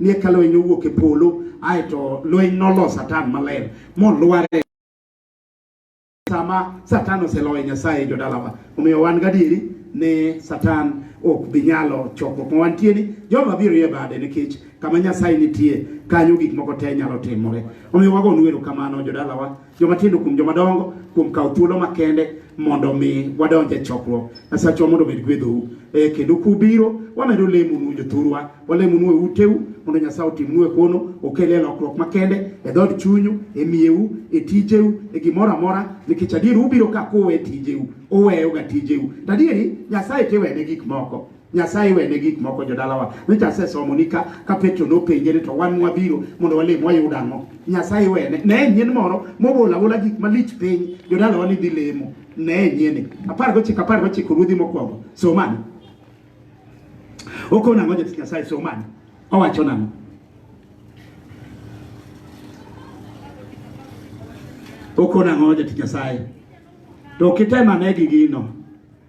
ni eka lweny nowuok e polo ae to lweny nolo satan maler molware sama satan oseloyo nyasaye jodalawa omiyo wan gadieri ne satan ok bi nyalo choko kuma wantie ni joma biro ye bade nikech kama nyasaye nitie kanyo gik moko te nyalo timore omiyo wago nweru kamano jodalawa joma tindo kuom joma dongo kuom kawo thuolo makende mondo mi wadonj e chokruok asachwa mondo obed gwedhou e eh, kendo kubiro wamedo lemonu jothurwa walemonu e uteu mondo nyasaye otimnu e kono okel e lokruok makende e dhod chunyu e miyeu e tijeu e gimoro amora nikech adier ubiro ka kuwe tijeu uweyoga tijeu to adieri nyasaye tiwene gik moko Nyasaye wene gik moko jodalawa. Nyocha asesomo ni ka ka Petro nopenje ni to wan mwabiro mondo walim wayud ang'o. Nyasaye wene. Ne nyien moro mobola bola gik malich piny jodalawa ni dhi lemo. Ne nyien. Apar gochiko apar gochiko ruodhi mokwongo. Somani. Okona ang'o jatich Nyasaye somani. Owacho nang'o? Okona ang'o jatich Nyasaye? To kitemane gi gino.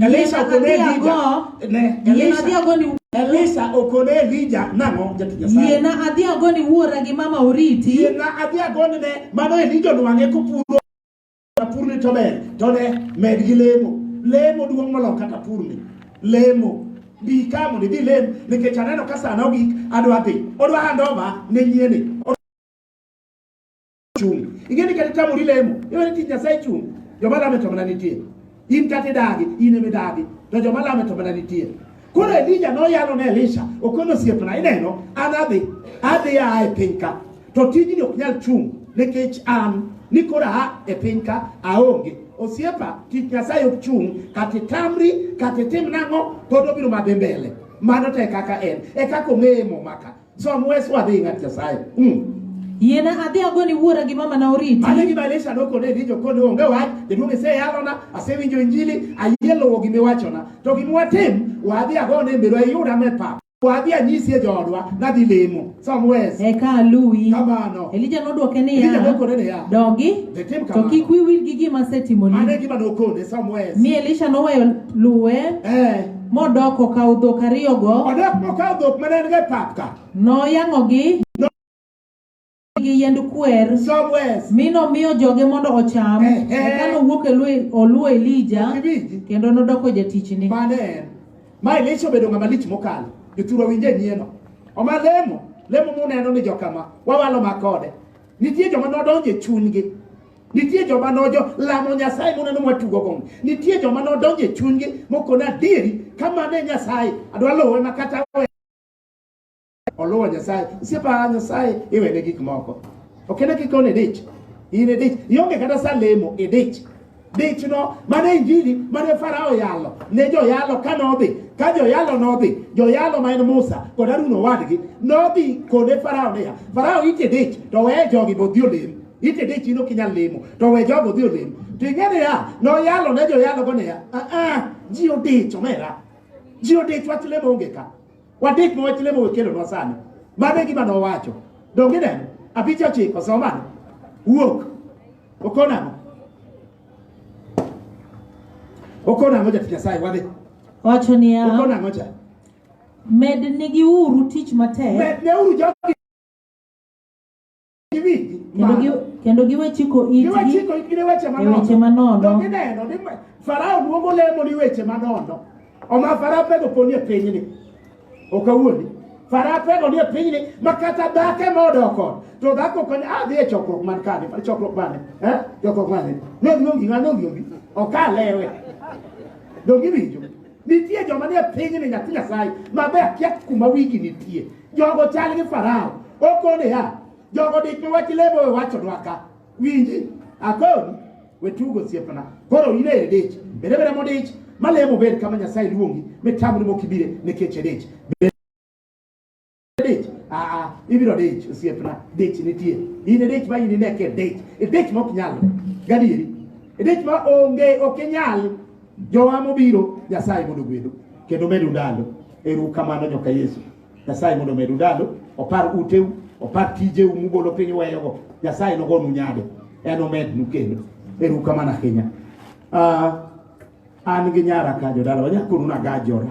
Elisha okone Elija. Ne, Elisha adhi agoni Elisha okone Elija nang'o jatich Nyasaye? Yiena adhi agoni wuora gi mama oriti. Yiena adhi agoni ne mano Elija onwang'e kopuro tapurni to ber to ne med gi lemo. Lemo duong' molo kata purni. Lemo bi ka mondo idhi lem nikech aneno ka sana ogik adwa dhi. Odwa handova ne nyieni. chung'. Ing'e ni kata itamori lemo, iwe ni tich Nyasaye chung'. Joma lame to mana nitie. In kata idagi, in ema idagi. To joma lame to mana nitie. Koro Elija noyalo ne Elisha, okono osiepna, ineno, an adhi, adhi aa e piny ka. To tijni ok nyal chung' nikech an ni koro aa e piny ka aonge. Osiepa, tich Nyasaye ok chung', kata itamri, kata itim nang'o, pod obiro madhi mbele. Mano to e kaka en, e kaka ong'eye momaka. Some ways what they got Nyasaye. Mm. Yiena adhi agoni wuora gi mama na oriti. Mane gi Malaysia nokone ni jokone onge wach, jaduong' ise yalona, asewinjo injili, ayie luwo gima iwachona. To gima watim, wadhi agone mbero ayuda me pap. Wadhi anyisi e joodwa, nadhi lemo. Some ways. Eka aluwi. Kamano. Elija nodwoke niya. Elija nokone niya. Dogi. Tim kamano. To kik wiwil gi gima asetimoni. Mane gima nokone, some ways. Mi Elisha noweyo luwe. Eh. Modok okawo dhok ariyogo. Odok mokawo dhok mane en go e pap ka. Noyang'ogi gi yiend kwer mi nomiyo joge mondo ocham eh, eh. eka nowuok e oluwo Elija kendo nodoko jatichni. Ma Elisha obedo ng'ama lich mokalo. Jothurwa winje nyieno. Oma lemo, lemo muneno ni jokama, wawalo makode. Nitie joma nodonjo e chunygi Nitie joma nojo lamo Nyasaye muneno mwatugo gong. Nitie joma nodonjo e chunygi mokona adieri kamano e Nyasaye adwa luwe ma kata we oluwo Nyasaye. Siepa Nyasaye iwene gik moko. Ok en kik one dich. In e dich. Ionge kata sa lemo e dich. Dich no mane injili mane Farao yalo ne joyalo ka nodhi ka joyalo nodhi joyalo ma en Musa kod Harun owadgi nodhi kode Farao niya Farao ite dich to weye jogi bodhi olem itede chini ok inyal lemo to we jogo dhi olem to ing'e niya noyalo ne joyalogo niya aa ji odich omera ji odich wach lemo onge ka wadich ma wach lemo wekelonwa sani mano e gima nowacho donge neno apicha ochiko somano wuok okonamo okonamo jatich nyasaye wadhi wacho niya okonamo cha mednigiuru tich matek medneuru jogi kendo giwe chiko itgi e weche manono gineno ni farao luongo lemo ni weche manono oma farao pego poni e pinyni ok awuondi farao pego ni e pinyni ma kata dhake modoko to dhako koni adhi ah, e chokruok man kani chokruok mane eh? chokruok mane nongi nongi nongi okalewe dongi winjo Nitie joma nie pinyni nyathi Nyasaye mabe akia kuma wigi nitie. Jogo chal gi Farao. Okone ya. Jogo dik mi wach lebo we wacho dwaka. Winji. Akoni. We tugo siepna. Koro ine e dich. Bere bere modich. Malemo ber kama Nyasaye luongi. Mitamu ni mokibire ne keche dich. Bere dich aa ibiro dich osiepna dich nitie in e dich ma in ineke dich e dich ma ok nyal gadieri e dich ma onge ok inyal jowa mobiro nyasaye mondo ogwedu kendo medu ndalo eru kamano nyoka yesu nyasaye mondo omedu ndalo opar uteu opar tijeu mubolo piny uweyogo nyasaye nogonu nyade en omednu kendo eru kamano ahinya uh, an gi nyara ka jodala wanyakonu nagajora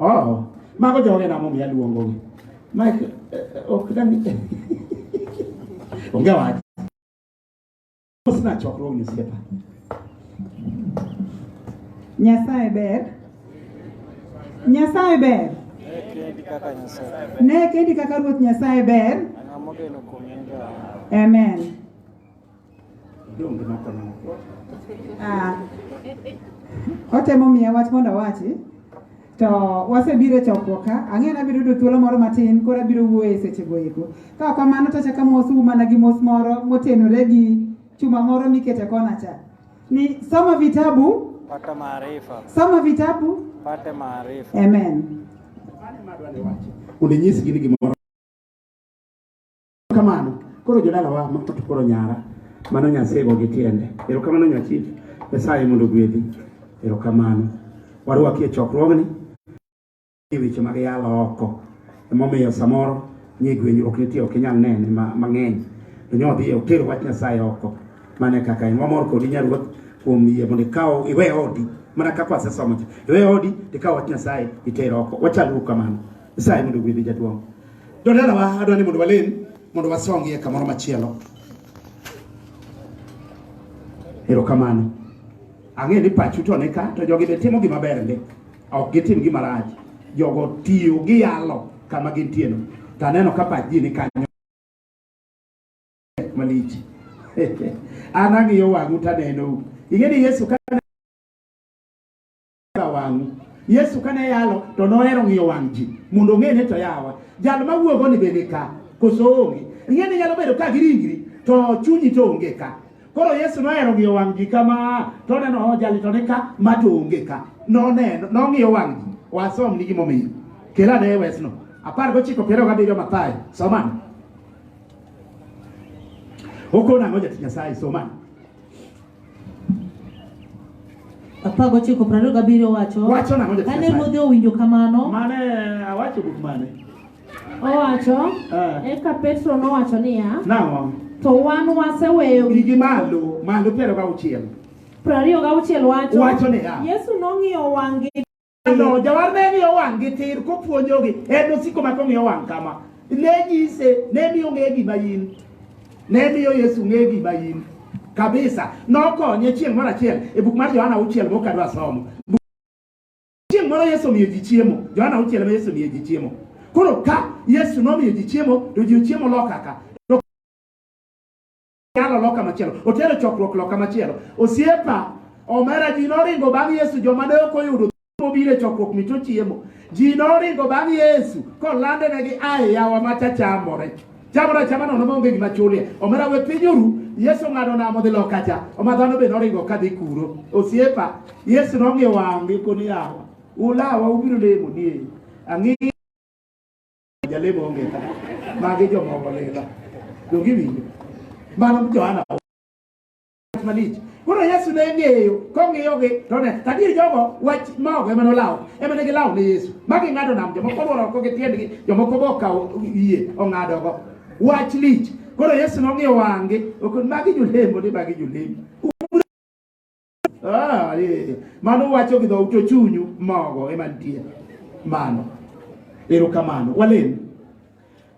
Oh, mago joge na momiyo aluongogi. Mike, eh, eh, ok dang' onge wach. Mosna chokruogni osiepa. Nyasaye ber. Nyasaye ber. Ne kendi kaka Ruoth Nyasaye ber. Amen. Ah. otemo miya wach mondo awachi to wasebiro e chokruok ka ang'eyo ni abiro yudo thuolo moro matin koro abiro wuoyo e sechego eko ka ok kamano to achako amosou mana gi mos moro motenore gi chuma moro mikete kona cha ni soma vitabu pata maarifa soma vitabu pate maarifa amen Mane madwa ni wacho. Undinyisgi ni gimoro Kamano. Koro jodala wa mafta to koro nyara. Mano Nyasaye go gi tiende. Ero kamano nyachif. Nyasaye mondo gwedhi. Ero kamano. Warwaki e chokruogni. E weche mag yalo oko. Emomiyo samoro nie gwenyruok nitie ok inyal nene mang'eny. To nyodhi e oter wach Nyasaye oko. Mane kaka en. Wamor kodi nyaruoth kuom yie mondo ikaw iwe odi mana kaka wasesomo iwe odi tikaw wach Nyasaye iter oko. Wachal uru kamano. Sai mondo gwedhi jaduong'. Jodalawa adwa ni mondo walem mondo wasongie kamoro machielo. Erokamano. Ang'e ni pachu to ne ka to jogi be timo gima ber ndi. Ok gitim gima rach. Jogo tiyo gi yalo kama gintieno. To aneno ka pach ji ni kanyo malich. An ang'iyo wang'u to anenou. Ing'e ni Yesu ka wang'u. Yesu kane yalo to nohero ng'iyo wang' ji mondo ong'e ni to yawa jal ma wuogo ni bende ka koso onge. Ing'e ni nyalo bedo ka gi ringri to chunyi to onge ka. Koro Yesu nohero ng'iyo wang' ji kama to neno oh, jali to ni ka ma to onge ka. Noneno, nong'iyo wang' ji. Wasom ni gimomiyo. Kela ne wesno. Apar gochiko piero gabiriyo Mathayo. Somane. Okona ang'o jatich Nyasaye somane. apar gochiko piero ariyo gabiriyo wacho Wacho nang'o Jatichna? kane ruodhe owinjo kamano Mane awacho buk mane? Owacho, Eh. eka Petro nowacho niya, Nang'o? to wan waseweyo gik Igi malo, malo piero gauchiel. piero ariyo gauchiel wacho. Wacho niya. Yesu nong'iyo wang'gi No, jawar ne ni owang' gi tir kopuonjogi en osiko ma kong'iyo owang' kama ne nyise ne miyo ng'e gima in ne miyo Yesu ng'e gima in kabisa nokonye chieng' moro achiel e buk mar Johana auchiel mok adwa somo chieng' moro Yesu omiyo ji chiemo Johana auchiel ma Yesu omiyo ji chiemo koro ka Yesu nomiyo ji chiemo to ji ochiemo lokaka Yalo loka machielo, otero chokruok loka machielo. Osiepa omera ji noringo bang' Yesu, joma ne ok oyudo mobiro e chokruok mito chiemo. Ji noringo bang' Yesu kolande ne gi ae yawa macha chamore. Chamore chama nono maonge gima chulie. Omera we piny oru, Yesu ng'ado namo dhi loka cha. Oma dhano be noringo ka dhi kuro. Osiepa, Yesu nong'iyo wang'gi koni yawa. Ulawa ubiro lemo ni ang'e Jalemo onge ka. Magi joma olela. Donge iwinjo? Mano Johana malich. Koro Yesu ne ng'eyo kong'iyogi to ne tadier jogo wach maogo ema nolawo ema ne gilawo ne Yesu ma ging'ado nam jomoko olworo oko gi tiendgi jomoko be okawo yie ong'adogo wach lich koro Yesu nong'iyo wang'gi ok magi jolembo ni magi jolembo Ah, eh. mano wacho gi dhout to chunyu mogo ema nitie mano erokamano walem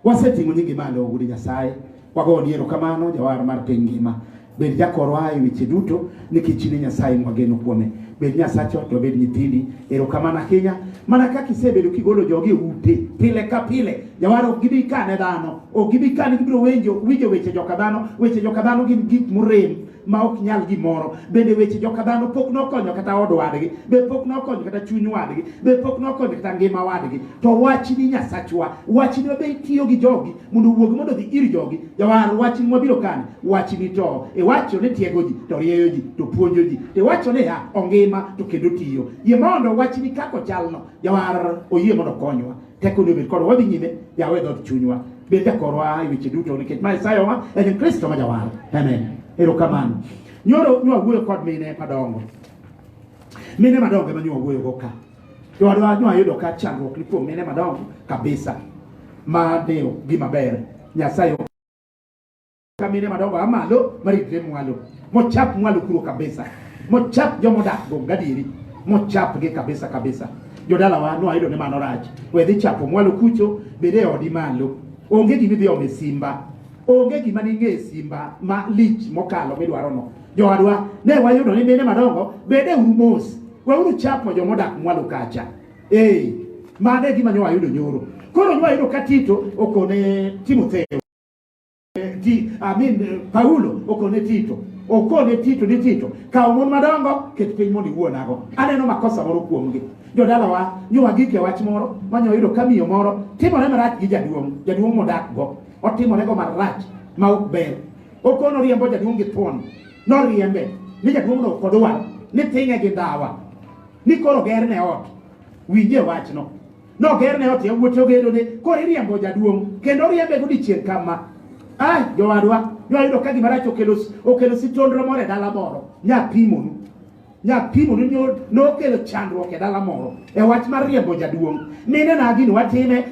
waseting'o nyingi malo ogudi nyasaye wagoni erokamano jawar mar piny ngima bed jakorwa e weche duto nikech ni nyasaye mwageno kuome bed nyasacho to bed nyithindi erokamano ahinya mana kaka isebedo kigolo jogi e ute pile ka pile jawar ok gibi kane dhano ok gibi kane gibiro winjo weche joka dhano weche joka dhano gin gik morem ma ok nyal gimoro bende weche joka dhano pok nokonyo kata od wadgi be pok nokonyo kata chuny wadgi be pok nokonyo kata ngima wadgi to wach ni nyasachwa wach ni wabe tiyo gi jogi mondo wuog mondo dhi ir jogi jawar wach ni wabiro kani wach ni to iwacho ni tiego ji to rieyo ji to puonjo ji to iwacho ni ha ongima to kendo tiyo yie mondo wach ni kako chalno jawar oyie mondo konywa Tekoni obed kodwa. Wadhi nyime, yawe dhood chunywa. Bed jakorwa e weche duto nikech ma Isayawa en Kristo ma jawar. Amen. Erokamano. Nyoro nwa wuoyo kod mine madongo. Mine madongo ema nwa wuoyo go ka. Jowadwa nwa yudo ka chandruok ni kuom mine madongo kabisa. Ma dewo gima ber. Nyasaye kamine madongo a malo maritre mwalo mochap mwalo kuro kabisa mochap jomodak go gadieri mochapgi kabisa kabisa jodalawa noayudo ni mano rach we dhi chapo mwalo kucho bede odi malo onge gima idhi ome simba onge gima ning'e simba ma lich mokalo midwarono jowadwa ne wayudo ni mine madongo bede uru mos weuru chapo jomodak mwalo kacha ee mano e gima nyo wayudo nyoro koro nyo wayudo ka tito okone timotheo eh, ti, amin eh, Paulo okone Tito okone Tito ni Tito kawo mon madongo ket piny mondo iwuonago aneno makosa moro kuomgi jodalawa nyowa gik e wach moro manyo yudo ka miyo moro timore marach gi jaduong' jaduong' modakgo otimorego marach ma ok ber okono riembo jaduong' gi thuon noriembe ni jaduong'no ok odwar ni ting'e gi ndawa ni koro gerne ot winje wachno Nogerne ot yawuote ogedone, koro iriembo jaduong' kendo riembe godiechieng' kama. Ai, jowadwa, noyudo ka gima rach okelo okelo sitondro moro e dala moro, nyapimonu. Nyapimonu nyo nokelo chandruok e dala moro e wach mar riembo jaduong'. Mine na gini watime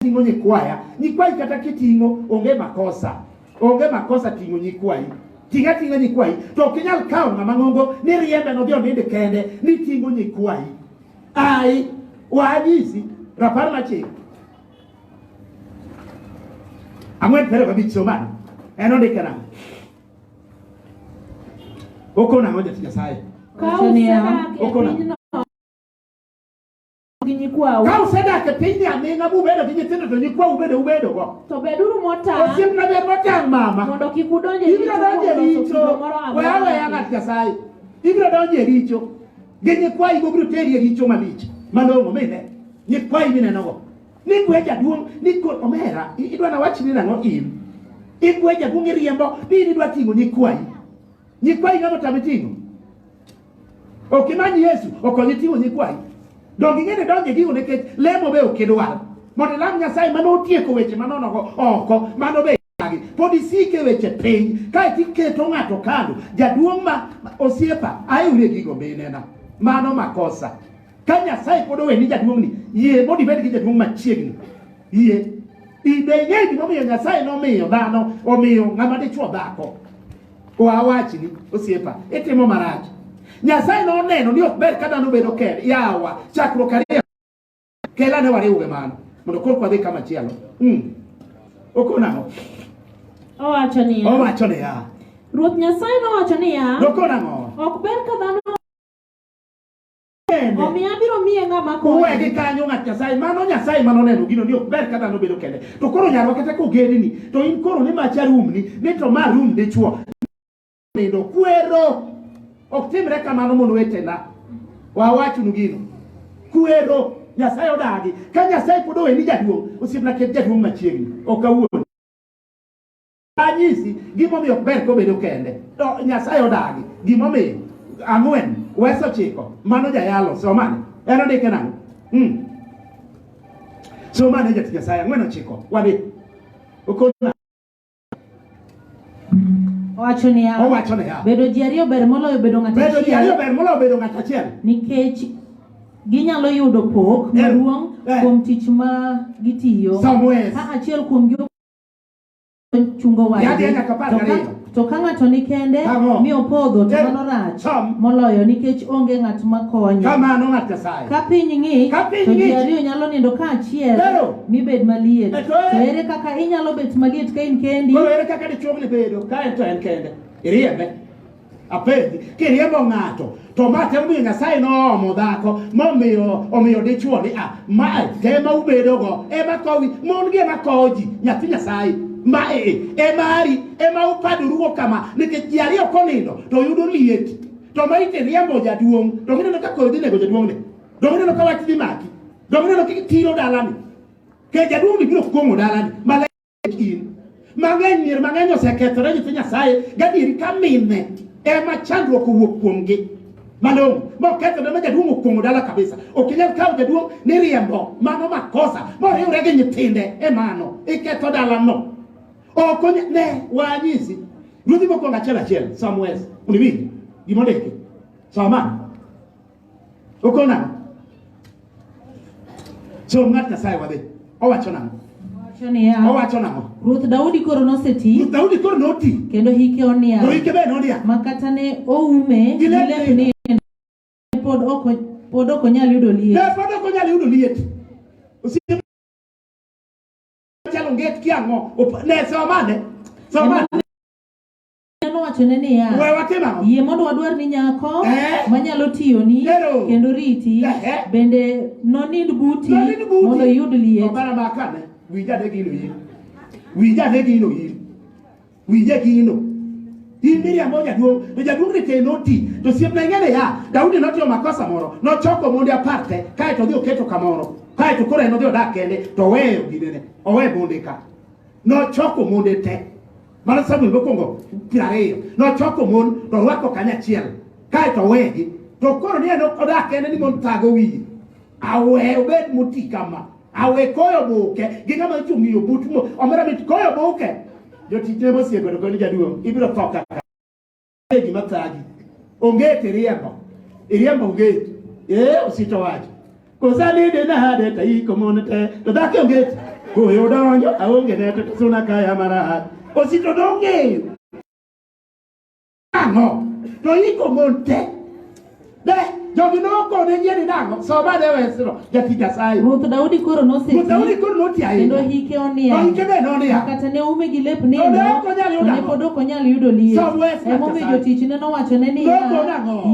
ting'o nyikwaya. Nyikwayi kata kiting'o onge makosa. Onge makosa ting'o nyikwayi. Tinga tinga nyikwayi to ok inyal kawo ng'ama ng'ongo ni riembe nodhi oninde kende ni ting'o nyikwayi. Ai, wanyisi rapar machik ang'wen piero abich somani en ondike nang'o okon ang'o jatich nyasaye Wacho niya, Okona. gi nyikwau ka usedak e pinyni aming'a mubedo gi nyithindo to nyikwau bende ubedogo to beduru motang' osiepna ber motang' mama mondo kik udonj e ibiro donjo e richo richo kuom loso kido moro we aweya amora ng'at nyasaye ibiro donjo e richo Gi nyikwayi go biro teri e richo malich malong'o mine. Nyikwayi minenogo. Nikwe jaduong' ni kod omera idwa na wach ni nang'o in. Ikwe jaduong' iriembo ni in idwa ting'o nyikwayi. Nyikwayi ng'ama otami ting'o. Ok imany Yesu okonyi ting'o nyikwayi. Donge ing'eni donge e gigo nikech lemo be ok idwar. Mondo ilam Nyasaye mano otieko weche manonogo oko mano be pod isike weche piny kae tiketo ng'ato kando jaduong' ma osiepa aewre gigo be inena mano makosa ka nyasaye pod oweni jaduong'ni yie mondo ibed gi jaduong' machiegni yie ibe ing'e gimomiyo nyasaye nomiyo dhano omiyo ng'ama dichwo dhako wawachni osiepa itimo marach nyasaye noneno ni ok ber ka dhano bedo kend yawa chakruok ariyo Kela ne wariwuoge mano mondo koro kwadhi kama chielo. Mm. Okonang'o? Owacho niya. Owacho niya. Ruoth Nyasaye nowacho niya. Nokonang'o? Ok ber ka dhano kende. Omiyo abiro miye ng'ama konye. Uwe gi kanyo ng'at Nyasaye. Mano Nyasaye mano neno gino ni ok ber ka dhano bedo kende. To koro nyarwa kata kogedni to in koro ni macha rumni ni to ma rum dichwo. nindo kwero ok timre kamano mondo wetena wawachnu gino kwero nyasaye odagi ka nyasaye pod oweni jaduong' osiepna ket jaduong' machiegni ok awuon anyisi gimomiyo ok ber kobedo kende nyasaye odagi gimomiyo ang'wen weso chiko mano jayalo somane en ondike nang'o hmm. somane jati nyasaye ang'wen ochiko wadhi okona Owacho niya, owacho niya, bedo ji ariyo ber moloyo bedo ng'ato achiel. Bedo ji ariyo ber moloyo bedo ng'ato achiel. Nikech ginyalo yudo pok eh, maduong' eh. kuom tich ma gitiyo. Somewhere. Ka achiel kuom gi chungo wadgi. To ka ng'ato ni kende mi opodho to eh, mano rach moloyo nikech onge ng'at makonye. Kamano ng'at Nyasaye. Ka piny ng'ich, Ka piny to ji ng'ich. ariyo nyalo nindo kaachiel Pero. mi bed maliet. E to ere- To ere kaka inyalo bet maliet ka in kendi? Koro ere kaka dichuo ni bedo ka en to en kende? Iriembe. Apenji, kiriembo ng'ato to ma temo miyo Nyasaye noomo dhako momiyo omiyo dichuo ni a ma tema ubedogo ema kowi mon gi ema kowo ji nyathi Nyasaye ma e e mari ema upadorugo kama nikech ji ariyo konindo to yudo liet Joma ite riembo jaduong' donge ineno ka koyo dhi nego jaduong'ni? Donge ineno ka wach dhi maki? Donge ineno ka tiro dalani? Ke jaduong'ni biro kuong'o dalani maler in. Mang'eny mier mang'eny osekethore nyithi Nyasaye gadieri ka mine ema chandruok owuok kuomgi malong'o mokethore ma jaduong' okuong'o dala kabisa ok inyal kawo jaduong' ni riembo mano makosa moriwre gi nyithinde e mano iketho dalano Ok onya- ne wanyisi ruodhi mokwongo achiel achiel somewhere uniwinji gima ondiki soma okono nang'o som ng'at nyasaye wadhi owacho nang'o Wacho niya, owacho nang'o Ruoth Daudi koro noseti Ruoth daudi koro noti kendo hike to onia ike be nodia ma kata ne oume gi Gi lep lep ni ne pod ok o- pod ok onyal yudo liet. ne pod ok onyal yudo liet Osiepe Chalo nget ki ang'o? Op- Ne somane. Somane. Neno wachone niya, We watim ang'o? yie mondo wadwar ni nyako Eh. manyalo tiyoni Lero. kendo riti Ehe. bende nonind buti Nonind buti. mondo iyud liet. Obara makane. Wija de gino yiri. Wija de gino yiri. Winje gino. In Miriam o jaduong', to jaduong' ni tee noti, to siepna ing'ene ya, Daudi notimo makosa moro, nochoko monde apar te, kae to odhi oketo kamoro, kae to koro en odhi odak kende, to oweyo ginene, owe monde ka. Nochoko monde te, mano Samuel mokwongo piero ariyo, nochoko mon to orwako kanyachiel, kae to owegi, to koro ni en odak kende ni mon thago wiye. awe obed moti kama awe koyo buke gi ng'ama ochung' yo but mo omera mit koyo buke jotichne mosieko to koni jaduong' ibiro tho kaka e gima thagi onge tiriembo iriembo onge ee osito wacho kosalide nade ta iko mon te to dhaki onge koyo donjo aonge ne to suna kaya marahad osito dong'eyo Ang'o? To iko mon te. De jogi nokone yie ni nang'o? Soma ne wesno jati Nyasaye. Ruoth Daudi koro noseti. Ruoth Daudi koro noti ahinya. Kendo hike onia. To hike be nonia. Kata ne ume gi lep nindo. Ne ok onyal yudo. Ne pod ok onyal yudo liet. Som wes Ema omiyo jotichne nowachone niya.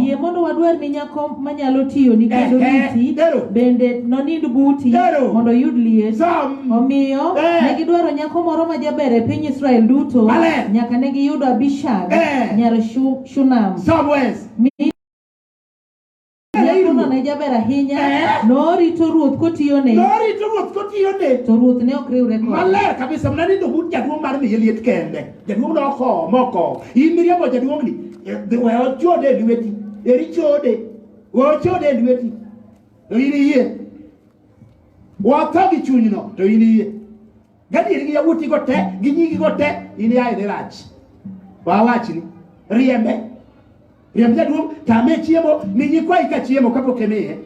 Yie mondo wadwar ni nyako manyalo tiyo ni kendo riti. Bende nonind buti mondo oyud liet. Som Omiyo eh. ne gidwaro nyako moro ma jaber e piny Israel duto nyaka ne giyudo Abishag eh. nyar Shunam. Nyakono ne jaber ahinya eh. norito ruoth kotiyone norito ruoth kotiyone to ruoth ne ok riwre kode maler kabisa mna nindo but jaduong' mar miye liet kende jaduong' noko moko in miriambo jaduong'ni we ochode e lweti eri chode we ochode e lweti to in iyie watho gi chunyno to in iye gadieri gi yawuotigo te gi nyigigo te in yaye ni rach wawachni riembe riemb jaduong' tame chiemo ni nyikwayi ka chiemo kapok imiye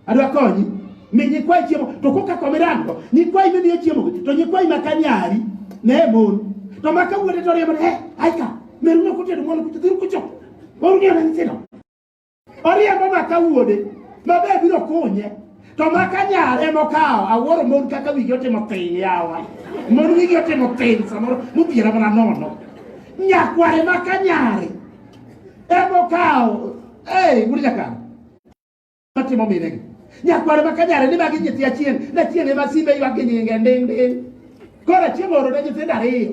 adwa konyi mi nyikwayi chiemo to koka komirango nyikwayi mimiyo chiemo to nyikwayi maka nyari ne mon to maka wuode to riembo ni he aika meruno kutedo mwana kucho dhiru kucho warunia na nyithindo Oriembo maka wuode mabe biro kunye to maka nyare mokawo awuoro mon kaka wigi otimo piny yawa mon wigi otimo piny samoro mobiro mana nono nyakware maka nyare emokawo ei wuod nyakano matimo minegi nyakware maka nyare ni magi nyithi achien na chien ema simbe ywak gi nyinge nding nding koro chieng' oro ne nyithindo ariyo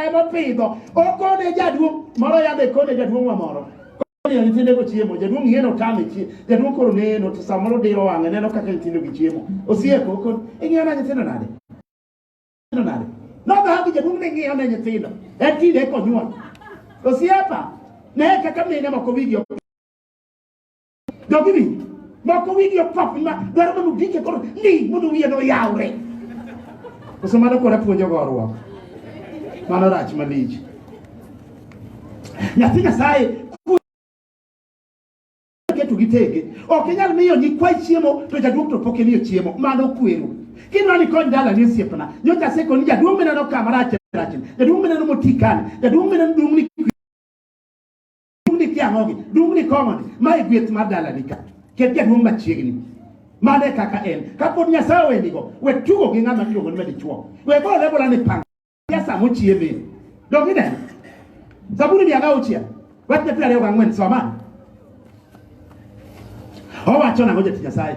emopidho okone jaduong' moro yande kone jaduong'wa moro Koriyo nyithinde go chiemo, jaduong' yeno otame chiemo. Jaduong' koro neno to samoro diro wang'e neno kaka nyithindo gi chiemo. Osieko kod ing'iyo na nyithindo nade? Nyithindo nade? Nodha gi jaduong' ne ng'iyo ne nyithindo. En tinde konyuol. Osiepa, ne kaka mine moko wigi ok Jogi ni moko wigi opap ma dwaro mondo gike koro ni mondo wiye no yawre. Koso mano kora puonjo gorwa. Mano rach malich. Nyathi Nyasaye keto gi tege. Ok inyal miyo nyikwa chiemo to jaduong' to pok imiyo chiemo. Mano kwero. Kinwani kony dala ni osiepna. Nyocha asekoni jaduong' mineno kama rach rach. Jaduong' mineno motikani. Jaduong' mineno duong' ni Dungni kiang'ogi, dungni kong'oni, mae gweth mar dalani ka. Ket jaduong' machiegni. Mano e kaka en. Kapod Nyasaye owendigo, we tugo gi ng'ama iluongo ni madichwo. We bole bola ni pang. Ya sa mochieme. Dongi ne. Zaburi mia gauchiel. Wach ne piero ariyo gang'wen soma. Owacho nang'o jatich Nyasaye?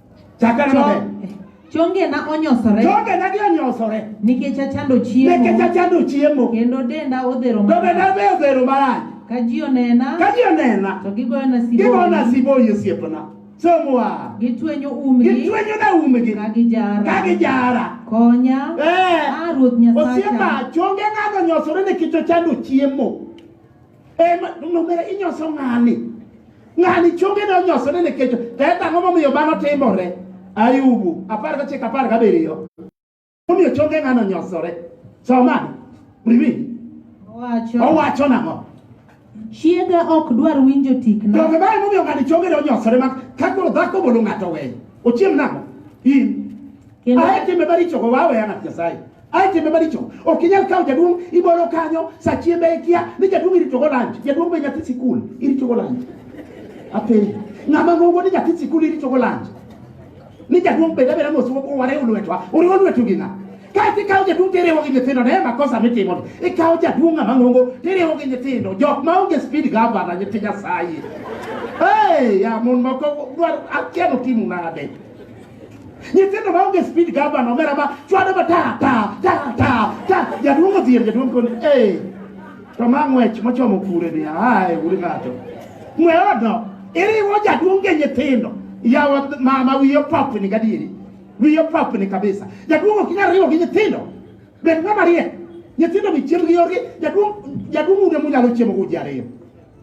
Chakane maber. Chongena onyosore. Chongena gi onyosore. Nikech achando chiemo. Nikech achando chiemo. Kendo denda odhero marach. Denda be odhero marach. Ka ji onena. Ka ji onena. To gigoyona siboyi. Gigoyona siboyi osiepna. Somoa. Gitwenyo umgi. Gitwenyo na umgi. Ka gijara. Ka gijara. Konya. Eh. Ah, Ruoth Nyasacha. Osiepa, chongena onyosore nikech ochando chiemo. Ema nomera inyoso ng'ani. Ng'ani chonge ne onyoso ne kecho. To e tang'o momiyo mano timore. Ayubu apar ka chik apar ka biriyo. Momiyo chonge ng'ano nyosore. Somani. Riwi. Owacho. Owacho nang'o? Chiega ok dwar winjo tikna. Donge ba emomiyo ng'ani chonge ne onyosore ma ka koro dhako bolo ng'ato weyo. Ochiem nang'o? In. Kendo. Ae timbe maricho go waweya ng'at Nyasaye. Ae timbe maricho ok inyal kawo jaduong' ibolo kanyo sa chiembe ikia ni jaduong' iritogo lanch jaduong' be nyathi sikul iritogo lanch apenji ng'ama ng'ongo ni nyathi sikul iritogo lanch ni jaduong' bed abeda mos wariw lwetwa uriwo lwetu gi ng'a kaeto ikawo jaduong' tiriwo gi nyithindo ne makosa mitimo ikawo jaduong' ng'ama ng'ongo tiriwo gi nyithindo jok ma onge speed gavana nyithi nyasaye hey, ya mon moko dwaro akia notimu nade Nyithindo ma onge speed gavana omera ma chwado ma ta ta ta ta ta jaduong' odhier jaduong' koni ee to ma ng'wech mochomo kure ni ae uri ng'ato ng'we odno iriwo jaduong' gi nyithindo yawa mama wiyo popni gadieri wiyo popni kabisa jaduong' ok inyal riwo gi nyithindo bed ng'ama riek nyithindo mi chiemb gi yorgi jaduong' jaduong' ude munyalo chiemo uji ariyo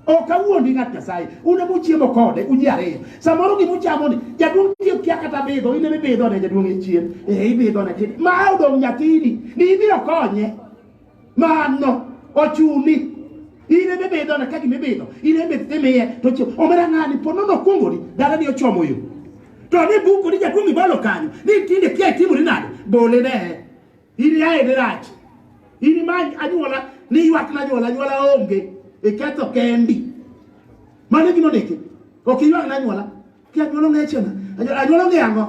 Ok awuondi ng'at Nyasaye, un ema uchiemo kode, un ji ariyo. Samoro gima uchamo ni, jaduong' tiyo kia kata bidho, in ema ibidho ne jaduong' e chien. Eh, ibidho ne kidi. Ma odong' nyathini, ni ibiro konye. Mano, ochuni. In ema ibidho ne ka gima ibidho, in ema imiye, to chiemo. Omera ng'ani, po nono okuongoni, dala ni ochomo yo. To ni buko ni jaduong' ibolo kanyo, ni tinde kia itimori nade, bole ne. In yaye ni rach. In ma anyuola ni ywak na anyuola, anyuola onge. Iketho kendi. Mano gima ndiki. Ok ywak na anyuola. Ki anyuola onge chena. Anyuola onge ang'o?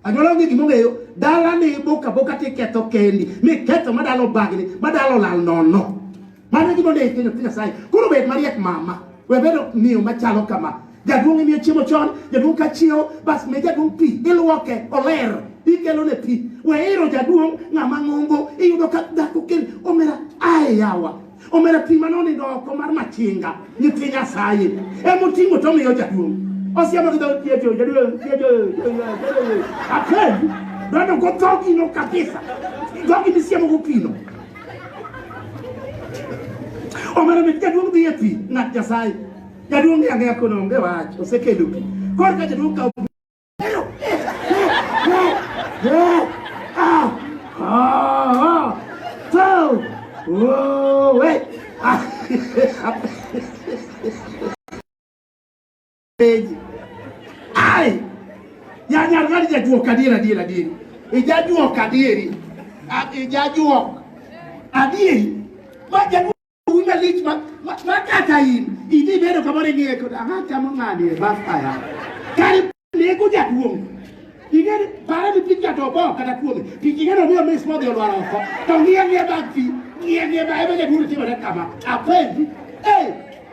Anyuola onge gima ongeyo. Dala ni boka boka ti ketho kendi. Mi ketho madalo bagni, madalo lal nono. Mano gima onego itimo nyathi Nyasaye. Koro bed mariek mama. We bedo miyo machalo kama. Jaduong' imiyo chiemo chon, jaduong' ka chiewo, bas mi jaduong' pi, iluoke, oler, ikelo ne pi. We iro jaduong' ng'ama ng'ongo, iyudo ka dhako kel, omera, ae yawa. Omera pi mane onindo oko mar machinga, nyithi Nyasaye. Ema oting'o to omiyo jaduong'. Osiemo gi dhood chiege, jaduong', chiege, jaduong', jaduong'. Akendi, donjo go dhogi no kabisa. Dhogi misiemo go pi no. Omera mit jaduong' dhi e pi ng'at Nyasaye. Jaduong' ng'e ang'eya kono onge wach, osekelo pi. Koro ka jaduong' kawo pi. Oh, wait. Ai! Yani argali jajuo kadiera diera dieri. Ijajuo kadieri. Ijajuo adieri. Majajuo una lich ma makata in. Idi bedo kamore ngiye kod aha chamo ngani e basta ya. Kari lego jaduong. Ingeri para ni pinja to bo kata kuome. Pinji ngero miyo mis modhi olwar oko. To ngiye ngiye bag fi. Ngiye ngiye bag ebe jaduong timo rekama. Apenji. Hey!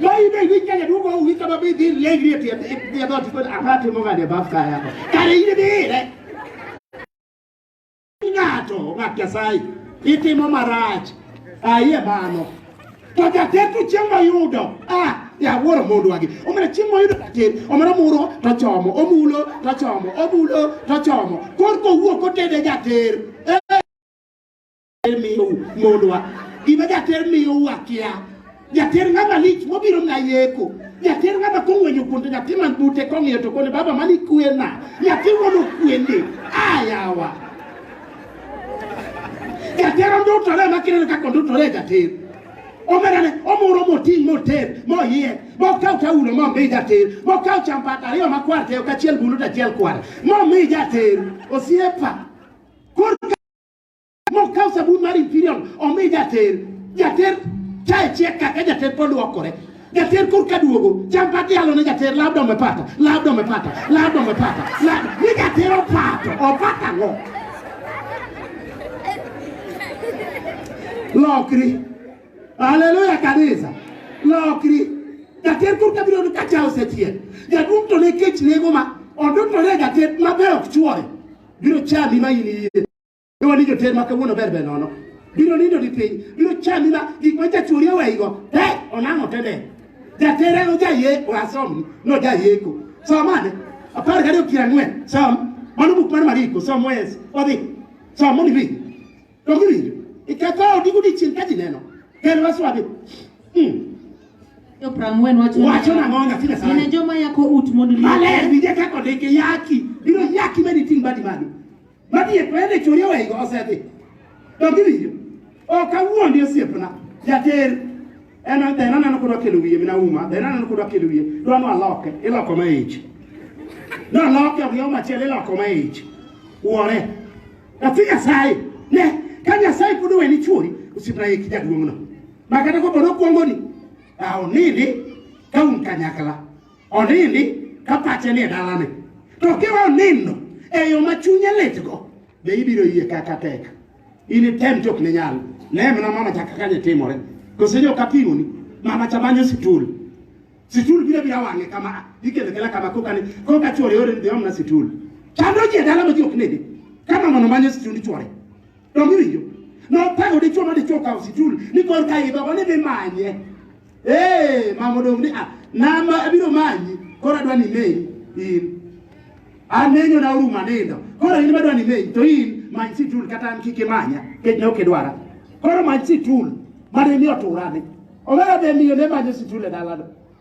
Lai dai wi kanya du go wi kama bi di le gri ti ti do ti ko apa ti mo ga de baf ka ya ko. Kare ine de re. Ngato ngapya sai. Iti mo marach. Aye bano. To ja te tu chemba yudo. Ah ya woro mundu wagi. Omere chemba yudo ka te. Omere muro to chomo. Omulo to chomo. Omulo to chomo. Kor ko wuo ko te de ja te. Eh. jater miyo mondwa gima jater miyo wakia jater ng'ama lich mobiro na yeko jater ng'ama kong'wenyo kuonde nyathi man bute kong'iyo to kone baba mani kwena nyathi wono kwende ayawa jater ondutore makineno kaka ondutore jater omerane omuro moting' moter moyie mokaw taulo momi jater mokaw champat ariyo makwar teyo kachiel bulu tachiel kwar momi jater osiepa Nokawo sabun mar Imperial omi jater. Jater chae chiek kaka jater pod luokore. Jater kur ka duogo, cham pat yalo ne jater labda umepata, labda umepata, labda umepata. Labda ni jater opato, opato ang'o? Lokri. Haleluya kanisa. Lokri. Jater kur ka biro ka chae osechiek. Jaduong' to ne kech nego ma odutore jater maber ok chuore. Biro chami ma in iye. Iwa ni joter ma kawuono ber ber nono. Biro nindo di piny, biro chami ma gik ma jachuri oweigo. Te, onang'o tede. Jatere no jaye oasom no jayeko. Somane, apar gariyo piero ang'wen, som, mano buk mar Mariko, som wes, odhi, som mondo iwinj. To giwinjo, iketho odi godiechieng' ka ji neno, kel waswabi. Hmm. Yo prang'wen wacho Wacho nang'o nyathi Nyasaye? Ine joma yako ut mondo liete. Maler, winje kaka odike yaki, biro yaki mani ting' badi malo. Magi e kwene churi wego osedhi. Dog iwinjo. Ok awuondi osiepna. Jater en dheno neno kod wakelo wiye mina uma dheno neno kod wakelo wiye dwa ni waloke iloko ma ich noloke ok yo machielo iloko ma ich wuore nyathi nyasaye ne ka nyasaye pod oweni chuori osiepna yeki jaduong'no ma kata kopo nokwongoni aonidi ka un kanyakla onindi ka pache nie dalane to kiwa onindo e yo ma chunye litgo be ibiro yie kaka tek initem chok ne nyalo ne mna mama chaka kanye timore kose jo kapimoni mama chamanyo situl situl biro bira wang'e kama ikele kela kama koka ni koka chwore ore dhiomna situl chando ji e dala ma ji ok nede kama mono manyo situl chwore Donge iwinjo? Noparo dichwo ma dichwo kawo situl ni kor ka idho ni dhi manye. Eh, mama odong' ni ah, nama abiro manyi koro adwa ni neni in. Anenyo na oruma nindo. Koro in madwa ni neni to in many situl kata an kik imanya kech ne ok idwara. Koro many situl mane ni oturani. Omera be miyo ne manyo situl e dalano.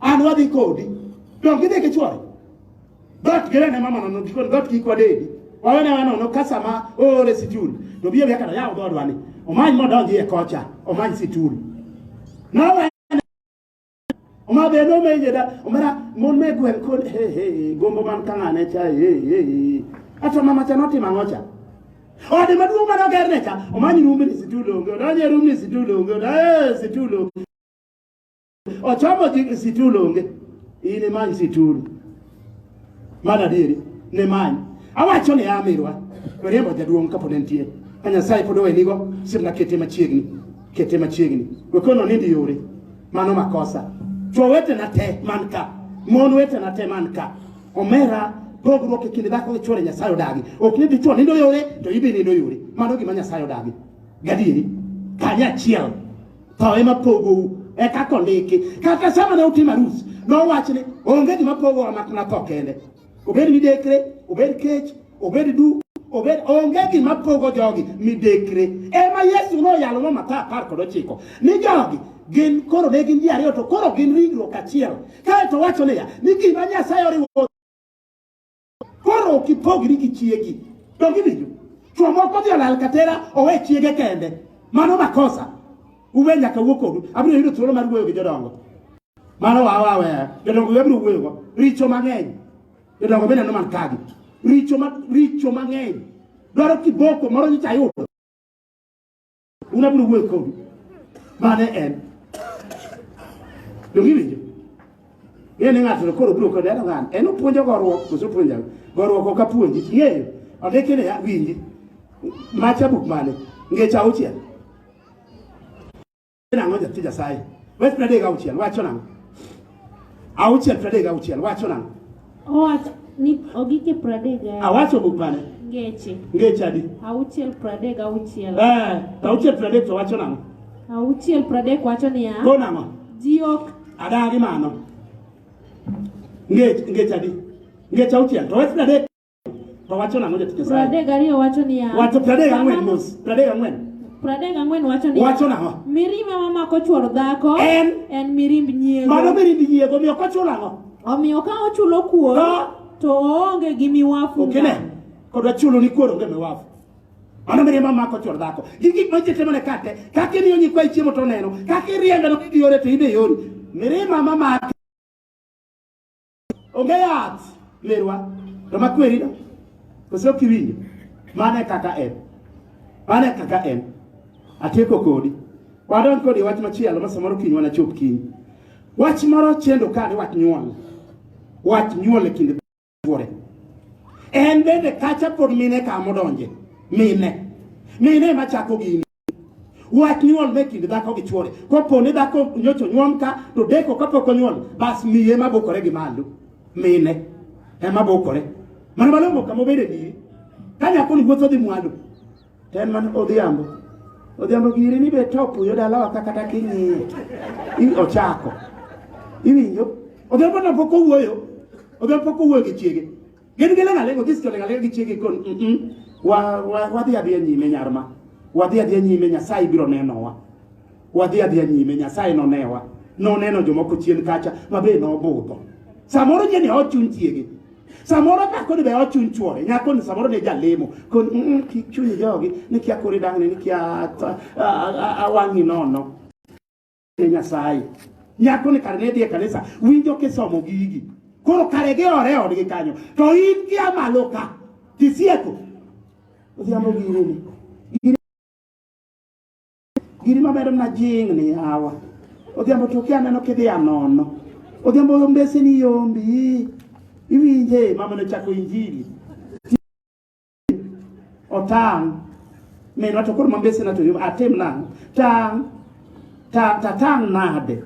An wadhi kodi. Donge gidhi gi chwore? Dot gere ne mama nono dikon dot kik wadedi. Wawene wano no kasa ma ore situl. To biye biya kata yawo dodwa ni. Omany modonji e kocha. Omany situl. Nawe Oma be no me jeda. Omara mon me gwen kon he he gombo man kanga ne cha he he. Ato mama cha noti mangocha. Ode maduong' mane oger ne cha. Omanyi rumbe ni situl onge. Odonje rumbe ni situl onge. Odonje situl onge. Ochamo ji situlu onge. In imany situlu. Mano adieri, ne many. Awacho ni amirwa, riembo jaduong' kapod entie. Ka Nyasaye pod owenigo, simna kete machiegni. Kete machiegni. Wekono nindi yore. Mano makosa. Chwo wetena te man ka. Mon wetena te man ka. Omera pogruok e kind dhako gi chwore Nyasaye odagi. Ok ni dichwo nindo yore to ibe nindo yore. Mano gima Nyasaye odagi. Gadieri, kanyachiel. tho ema pogou eka kondiki kata sama ne utim arus nowach ni onge gima pogowa mak na tho kende obed midekre obed kech obed du obed onge gima pogo jogi midekre ema yesu noyalo ma matha apar kod ochiko ni jogi gin koro ne gin ji ariyo to koro gin ringruok achiel kae to wacho niya ni gima nyasaye oriwo Koro ok ipogri gi chiegi. Donge iwinjo? Chwo moko odhi olal katera owe chiege kende. Mano makosa. Uwe nyaka wuo kodu. Abiro yudo thuolo mar wuoyo gi jodongo. Mano wawa aweya. Jodongo abiro wuoyogo. Richo mang'eny. Jodongo bende neno man kagi. Richo, ma, richo mang'eny. Dwaro kiboko moro nyicha ayudo. Un abiro wuoyo kodu. Mane en. Donge winjo? Ng'e ni ng'ato koro biro kode en ng'an. En opuonjo goruok, koso puonja. Goruok ok apuonji. Ng'eyo. Ondike ni winji. Macha buk mane? Ngeche auchiel. Nang'o jatija sai. Wes pradega auchiel. Wacho nang'o? auchiel pradek auchiel wacho nang'o owacho ni ogike pradek awacho buk mane ngeche ngeche adi auchiel pradek auchiel eh to auchiel pradek to wacho nang'o auchiel pradek wacho niya ko nang'o ji ok adagi mano ngech ngech adi ngech auchiel to wes pradek To wacho nang'o jatich Nyasaye? Pradek ariyo wacho niya. Wacho pradek ang'wen mos. Pradek ang'wen. Pradek ang'wen wacho niya. Wacho nang'o? Mirima ma mako chwor dhako en en mirimb nyiego. Mano mirimb nyiego miyo kochulo ang'o? Omiyo ka ochulo kuor to oonge gi miwafu. Okay, ne. Kodwa chulo ni kuor onge miwafu. Mano mire ma mako chor dhako. Gi gik ma jete mane kate, kaka imiyo nyikwa chiemo to neno, kaka iriembe no kiyore to ibe yori. Mire ma mama Onge yath lerwa to makweri no koso kiwinjo mane kaka en mane kaka en atieko kodi wadon kodi wach machielo masamoro kiny wana chop kiny wach moro chendo ka ni wach nyuol wach nyuol e kinde bore en bende kacha pod mine ka modonje mine mine machako gini Wach nyuol me kind dhako gi chuore. Kopo ni dhako nyocho nyuom ka to deko kapok onyuol bas miye ma bokore gi malo. Mine ema bokore. Mano malongo kama obede ni ka nyako ni wuotho dhi mwalo. To en mana odhiambo. Odhiambo giri ni be top yo dalawa ka kata king'iye. I ochako. Iwinjo? Odhiambo na pok owuoyo. Odhiambo pok owuoyo gi chiege. Gin gi lenga lengo gis jolenga lenga gi chiege kon mm wa wa wadhi adhi nyime nyarma. Wadhi adhi nyime Nyasaye biro nenowa. Wadhi adhi nyime Nyasaye nonewa. Noneno jomoko chien kacha mabe nobudho. Samoro je ni ochun chiege. Samoro ka kodi be ochun chuore. Nyako ni samoro ne jalemo. Kon mm ki chunyi jogi ni kia kori dang ni kia awangi nono. ne Nyasaye. Nyako ni kare ne dhi e kanisa winjo kisomo gigi. Koro kare gi ore odgi kanyo. To in gi amalo ka. Tisieko. Odhiambo gi rumi. Giri mabedo na jing ni hawa. Odhiambo to kia neno kidhi anono. Odhiambo mbese ni yombi. Iwinje mama ne chako injili. otang' minwa to koro mambesena to atim nang'o tang' tang' tatang' nade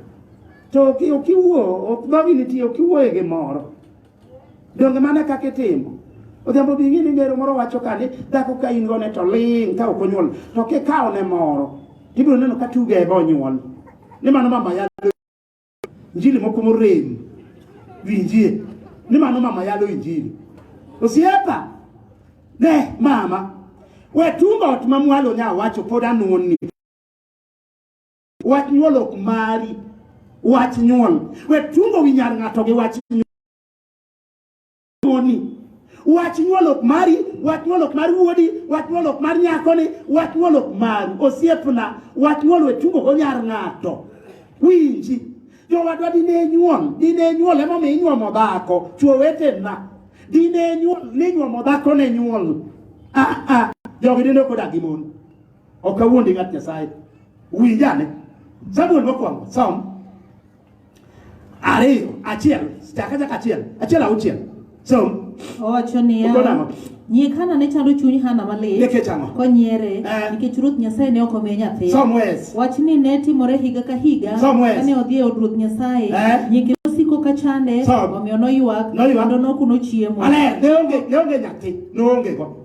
to okiwuo dhogi nitie okiwuoye gi moro donge mane kaka itimo odhiambo bi ng'e ni ngero moro wacho ka ni dhako ka in gone to ling' ka ok onyuol to kikawo ne moro tibiro neno ka tuge ebe onyuol ni mano mama yalo Injili moko morem winjie ni mano mama yalo injili. Osiepa ne mama we tungo ot ma mwalo nya wacho pod anuon ni wach nyuol ok mari wach nyuol we tungo wi nyar ng'ato gi wach nyuol. Koni. Wach nyuolok mari, wach nyuolok mar wuodi, wach nyuolok mar nyakoni, wach nyuolok maru, osiepna, wach nyuol we tugo go nyar ng'ato. Winji, jowadwa dine nyuol, dine nyuol emomiyo inyuomo dhako, chwo wetena. Dine nyuol, ninyuomo dhako ne nyuol. Ah, ah, jogi dine ok odagi mon. Ok awuondi ng'at Nyasaye. Winjane. Samuel mokwongo, Psalm Ariyo, achiel, chaka chaka achiel, achiel auchiel. Som. Owacho niya. Uko nang'o? Nyie Hana ne chando chuny Hana malit. Nikech ang'o? Konyiere. Eh. Nikech Ruoth Nyasaye ne ok omiye nyathi. Som wes. Wach ni ne timore higa ka higa. Som wes. Kane odhi e od Ruoth Nyasaye. Eh. Nyikine osiko ka chande. Som. Omiyo noywak. Noywak. Kendo nokuno chiemo. Maler, ne onge, ne onge nyathi, ne onge go.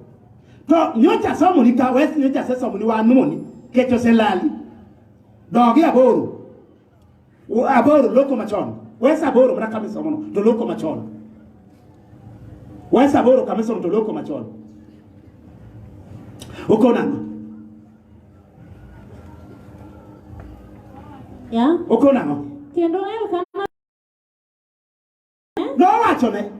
To nyocha somo ni ka wes nyocha se somo ni wanoni, kecho se lali. Dogi aboro. Aboro loko machon. Wes Aboro mana kamisa mono to loko machon. Wes Aboro kamisa mono to loko machon. Uko nang'o? Yeah. Uko nang'o? Kendo Elkana Nowachone.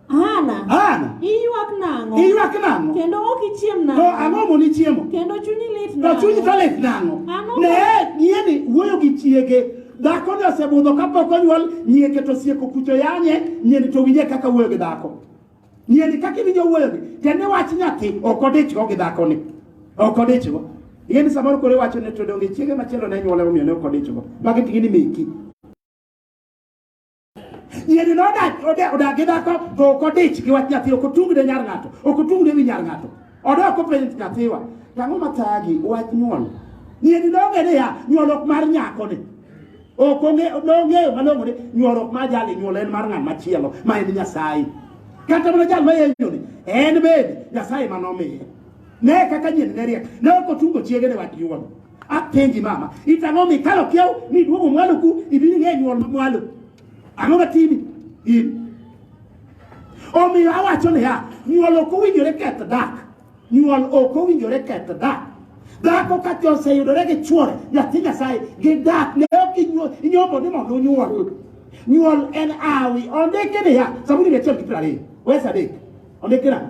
Hana. Hana. Iywak nang'o? Iywak nang'o? Kendo ok ichiem nang'o? To ang'o moni chiemo? Kendo chunyi lit nang'o? To chunyi to lit nang'o? Ang'o? Ne, nyieni wuoyo gi chiege. Dhako ni osebudho kapok onyuol, nyieke to sieko kucho yanye, nyieni to winje kaka wuoyo gi dhako. Nyieni kaka iwinjo wuoyo gi, tende wach nyathi, ok odichgo gi dhako ni. Ok odichgo. Ing'e ni samoro kore wacho ne to donge chiege machielo ne nyuole omiyo ne ok odichgo. Magi ting'e ni meki. Nyiri nodak odak gi dhako to ok odich gi wach nyathi, ok otung ne nyar ng'ato, ok otung ne wi nyar ng'ato. Odok openj nyathiwa, tang'o mathagi wach nyuol. Nyiri nong'e niya, nyuol ok mar nyako ni. Ok nong'eyo malong'o ni nyuol ok mar jali, nyuol en mar ng'at machielo ma en Nyasaye. Kata mana jal ma yenyoni en bende Nyasaye ma nomiye. Ne kaka nyiri ne riek, ne ok otungo chiege ne wach nyuol. apenji mama itang'o mikalo kiew miduogo mwalo ku ibini ng'e nyuol mwalo ang'o matimi in omiyo awacho niya nyuol ok owinjore keth dak nyuol ok owinjore keth dak dhako ka oseyudore gi chuore nyathi nyasaye gi dak ne ok inyomo ni mondo onyuol nyuol en awi ondiki niya sabuni ni achiel gi piero ariyo wes adek ondiki nang'o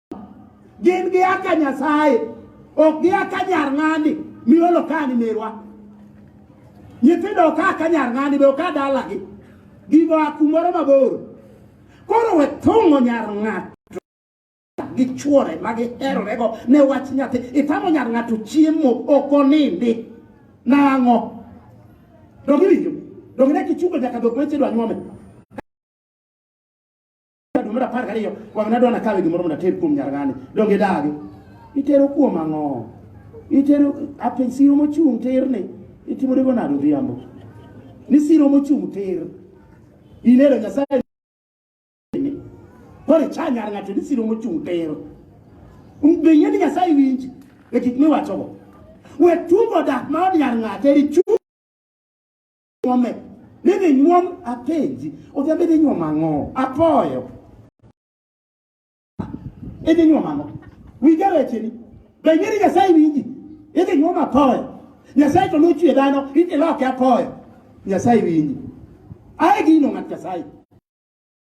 gin gia ka Nyasaye ok gia ka nyar ng'ani miolo kani merwa nyithindo oka ka nyar ng'ani be oka dalagi gigo a kumoro mabor koro we thung'o nyar ng'ato gi chuore ma giherorego ne wach nyathi itamo nyar ng'ato chiemo ok onindi nang'o donge winjo donge ne kichungo nyaka dhok weche dwa nyuome Dum mar apar gariyo wang' nadwa nakawe gimoro mondo ater kuom nyar ng'ani donge idagi itero kuom ang'o itero apenj siro mochung' ter ni itimorego nade odhiambo ni siro mochung' ter ineno nyasaye koro icha nyar ng'ato ni siro mochung' ter be yie ni nyasaye winji e gik miwachogo we tugo dak ma od nyar ng'ato erichu nyuome nidhi nyuom apenji odhi abed inyuom ang'o apoyo idhi nyuom ang'o winja wecheni be ing'eni nyasaye winji idhi nyuom apoyo nyasaye to nochwe dhano idhi loke apoyo nyasaye winji ae gino ng'at nyasaye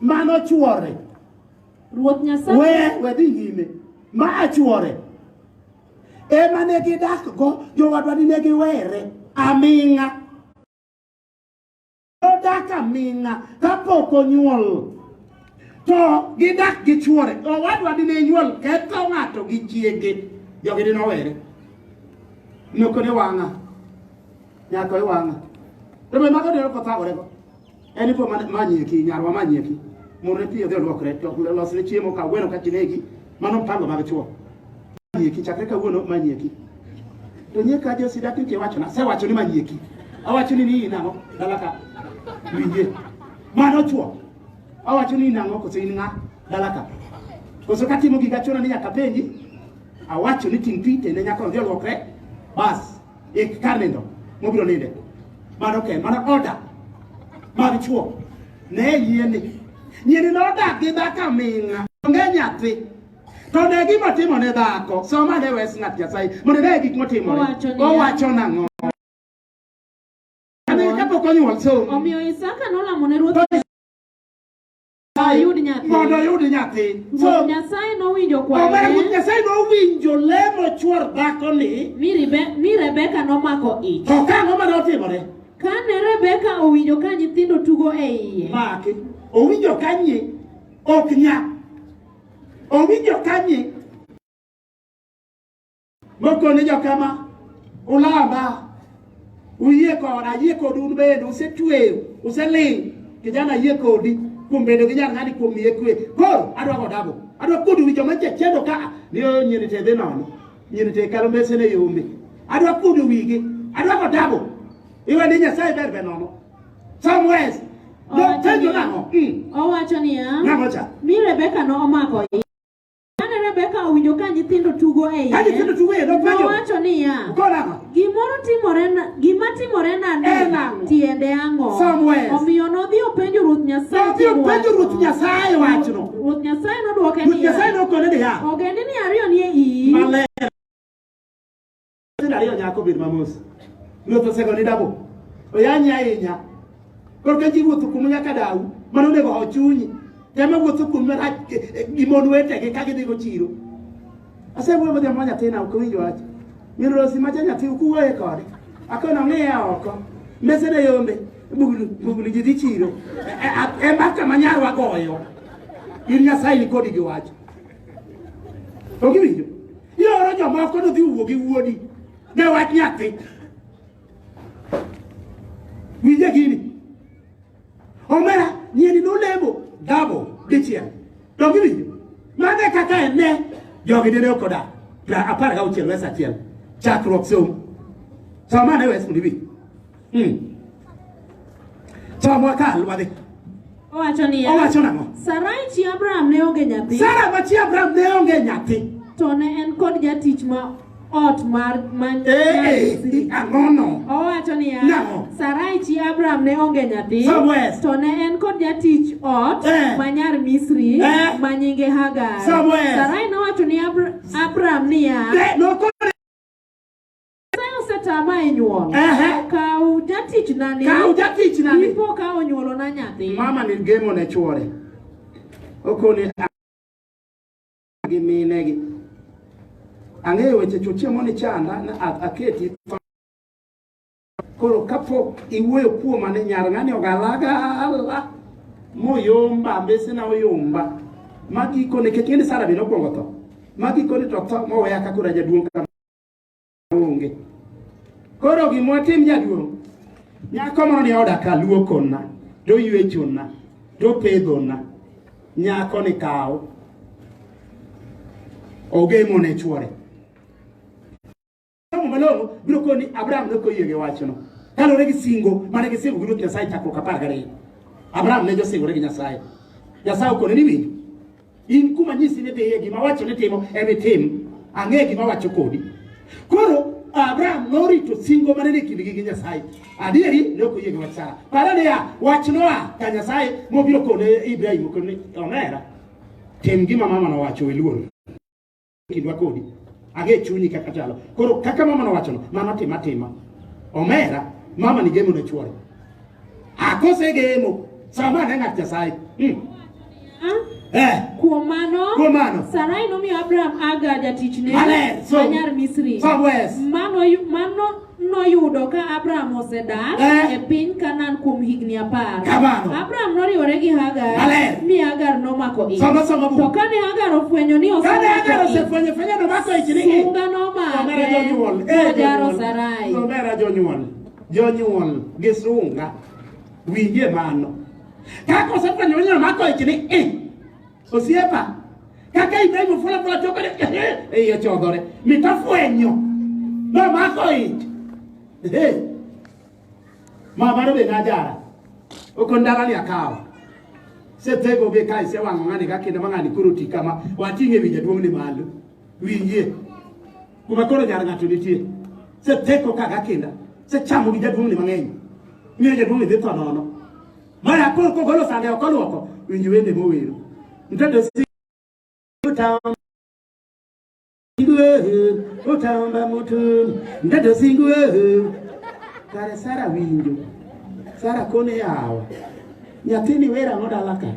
Mano chuore. Ruoth Nyasaye. We we dhi nyime. Ma achuore. Ema ne gidak go jowadwa ni ne giwere aming'a. Odak aming'a kapok onyuol. To gidak gi chuore. Owadwa ni ne nyuol ketho ng'ato gi chiege. Jogi ni nowere. Nokone wang'a. Nyako e wang'a. Rebe mago dero kothagore go. en ipo manyieki nyarwa manyieki mondo ne piyo dhi olwokre to losne chiemo ka gweno ka kinegi mano mpango mag chuo manyieki chakre kawuono manyieki to nye ka jo sida kike wacho na sewacho ni manyieki awacho ni ni nang'o dala ka winje mano chuo awacho ni nang'o koso in ng'a dala ka koso katimo giga chuna ni nyaka penji awacho ni ting' pi tende nyaka odhi olwokre bas Ik kar nindo mobiro ninde. Mano ken, mano order mag chuo. Ne yieni. Nyieni nodak gi dhako aming'a. Onge nyathi. To ne gima timo ne dhako. Soma ne wes ng'at Nyasaye. Mondo ne gik motimore. Owacho niya. Owacho nang'o. Kane kapok onyuol somo. Omiyo Isaka nolamo ne ruoth ayud nyathi. Mondo ayud nyathi. Ruoth Nyasaye nowinjo kwayo. Omera Ruoth Nyasaye nowinjo lemo chuor dhako ni. Mi Rebe, mi Rebeka nomako ich. To ka ang'o mane otimore? Kane Rebeka owinjo ka nyithindo tugo e iye. Maki. Owinjo ka nyi ok nya. Owinjo ka nyi Mokone jokama ulama uyie koda ayie kodu un bende usetweyo useling kijana ayie kodi kuom bedo gi jal ng'ani kuom miye kwe koro adwa godago adwa kudu wi joma chechedo ka ni o nyiri te dhi nono nyiri te kalo mbese ne yombe adwa kudu wigi adwa godago iwe ni nyasaye ber be nono somewhere no Owacho tenjo niya- nang'o Mm, Owacho niya, nang'o cha mi Rebeka nomako Kane Rebeka owinjo ka nyithindo tugo e iye, ka nyithindo tugo e iye, nopenjo. nowacho niya, Ukona ang'o? gimoro timore na, gima timore En nani ang'o? tiende ang'o? Samuel. Omiyo nodhi openjo Ruoth Nyasaye Nodhi tiend openjo wachno. Ruoth Nyasaye wachno. Ruoth Nyasaye nodwoke Ruoth Nyasaye niya, nokone niya, ogendini ariyo ni e iyi, Maler. Nyithindo ariyo nyako bed mamos. Ruoth osego ni dabo. Oyanyi ahinya. Koro ka ji wuotho kumu nyaka dawu, mano onego ho chunyi. Tema wuotho kumu marach gi mon wetegi ka gidhigo chiro. Asewuoyo gi joma nyathina ok winj wach. Min Rosi macha nyathi ukuwuoye kode. Akono ng'iya oko. Mesene yombe. Bugulu bugulu ji dhi chiro. E mbaka ma nyarwa goyo. In Nyasaye ni kodi gi wach. Ok iwinjo? Ioro jomoko nodhi wuo gi wuodi ne wach nyathi. Winje gini. Omera nyieni nolemo dabo dichiel. Donge iwinjo? Mano e kaka en ne jogi dine ok odak. Pra apar gauchiel wes achiel. Chakruok somo. Somane wes mondo iwinj. Mm. Chomwa ka alwadhi. Owacho niya. Owacho nang'o? Sarai chi Abraham ne onge nyathi. Sara ma chi Abraham ne onge nyathi. To ne en kod jatich ma ot mar man eh, eh, ang'ono owacho niya sarai chi abraham ne onge nyathi to ne en kod jatich ot eh. ma nyar misri ma nyinge hagar sarai nowacho ni abraham niya Nyasaye osetama e nyuol. Ehe. Kaw jatichna ni. Kaw jatichna ni. Ipo ka onyuolona nyathi. Mama ni gemo ne chwore. Okoni gi mine gi. Ang'eyo weche chochie moni chanda na aketi koro kapok iwuoyo kuoma ni nyar ng'ani ogalagala moyomba mbesena oyomba magikone kech ng'eni sara bende okwongo tho magikone to tho moweya ka koro ajaduong' onge. Koro gima watim jaduong', nyako moro ni oda ka luokona, to yuechona, to pedhona, nyako ni kawo ogemo ne chuore. Somo malong'o biro koni Abraham ne koyie gi wachno. Kaluwore gi singo mane gisingo gi Ruoth Nyasaye chakruok apar gariyo. Abraham ne josingore gi Nyasaye. Nyasaye okone ni winjo. In kuma nyisi ni dhiye gima wacho ni timo emi tim. Ang'e gima wacho kodi. Koro Abraham norito singo mane ni kindgi gi Nyasaye. Adieri ne ok oyie gi wach Sara. Pare niya, wach noa ka Nyasaye mobiro kone Ibrahim kone omera. Tim gima mama nowacho iluor. kindwa kodi ange chunyi kaka chalo koro kaka mama nowachono mama tima tima omera mama ni gemo ne chuore akose gemo sama ne ng'at nyasaye hmm. Eh. Kuom mano, kuom mano Sarai nomiyo Abraham Hagar jatichne ma nyar Misri. Mano, mano noyudo ka Abraham osedak eh. e piny Kanaan kuom higni apar. Kamano. Abraham noriwore gi Hagar. Maler. Mi Hagar nomako ich. Soma soma bu. To kane Hagar ofwenyo ni osemako ich. Kane Hagar osefwenyo fwenyo nomako ich ni. Sunga nomake. Omera jonyuol. Eh, Ojaro Sarai. Omera jonyuol. Jonyuol gi sunga. Winje mano. Kako osefwenyo ni nomako ich ni. Eh. Osiepa, kaka Ibrahim fula fula choko de ei ochodhore. Mita fwenyo. No mako ich. Eh. Mama no be najara. Okondara ni akawa. Setego be kai se wango ngani ka kendo mangani kuro ti kama watinge winja duong ni malo. Winjie. Kuma koro nyar ng'ato nitie. Seteko ka gakinda. Sechamo gi jaduong ni mang'eny. Miyo jaduong ni dhi tho nono. Mara koro kogolo sande ok olwoko winj wende mowero. Mtoto si utamba singue utamba mutu mtoto singue kare Sara winjo Sara kone yawa nyathini wera ng'o dala ka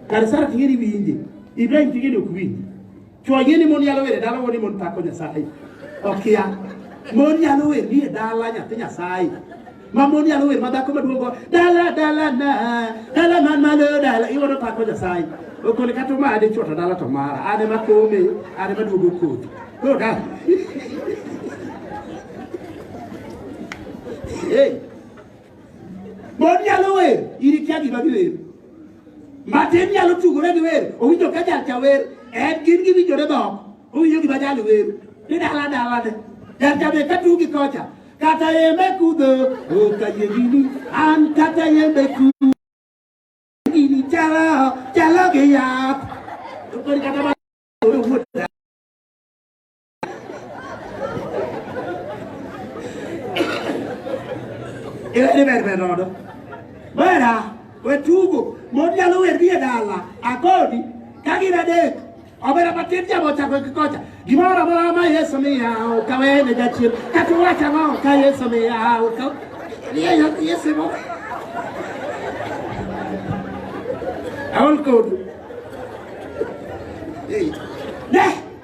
kare Sara ting'eni winje Ibrahim ting'eni ok winje Chwo ayie ni mon yalo wer e dala wuo ni mon pako Nyasaye. Okia. Mon yalo wer ni e dala nyathi Nyasaye. Ma mon yalo wer ma dhako maduong' go dala dala na dala man malo dala iwuono pako Nyasaye. Okole kata omade chwo to dala to mara. An ema kome, an ema duogo kodhi. Koro ka Hey, Mon nyalo wer, iri kia gima giwer. Matin nyalo tugore gi wer, owinjo ka jal cha wer, en gin giwinjore dhok, owinjo gima jal wer. Ni dala dala ne, jal cha be ka tugi kocha, kata yembe kudho, oka yegini, an kata yembe kudho. Gini chalo, chalo gi yath. Kori kata ma- Irene ber ber rodo. Wera, wetugo, mon nyalo wer gi e dala, akodi, ka gin adek. Obera matin jamo chako gi kocha. Gimoro amora ma Yesu miya, okawe ne jachien. Kata uwacho ang'o ka Yesu miya, okawe. Ye- ye- Yesu mo. Aol kodu. Hey. Ne!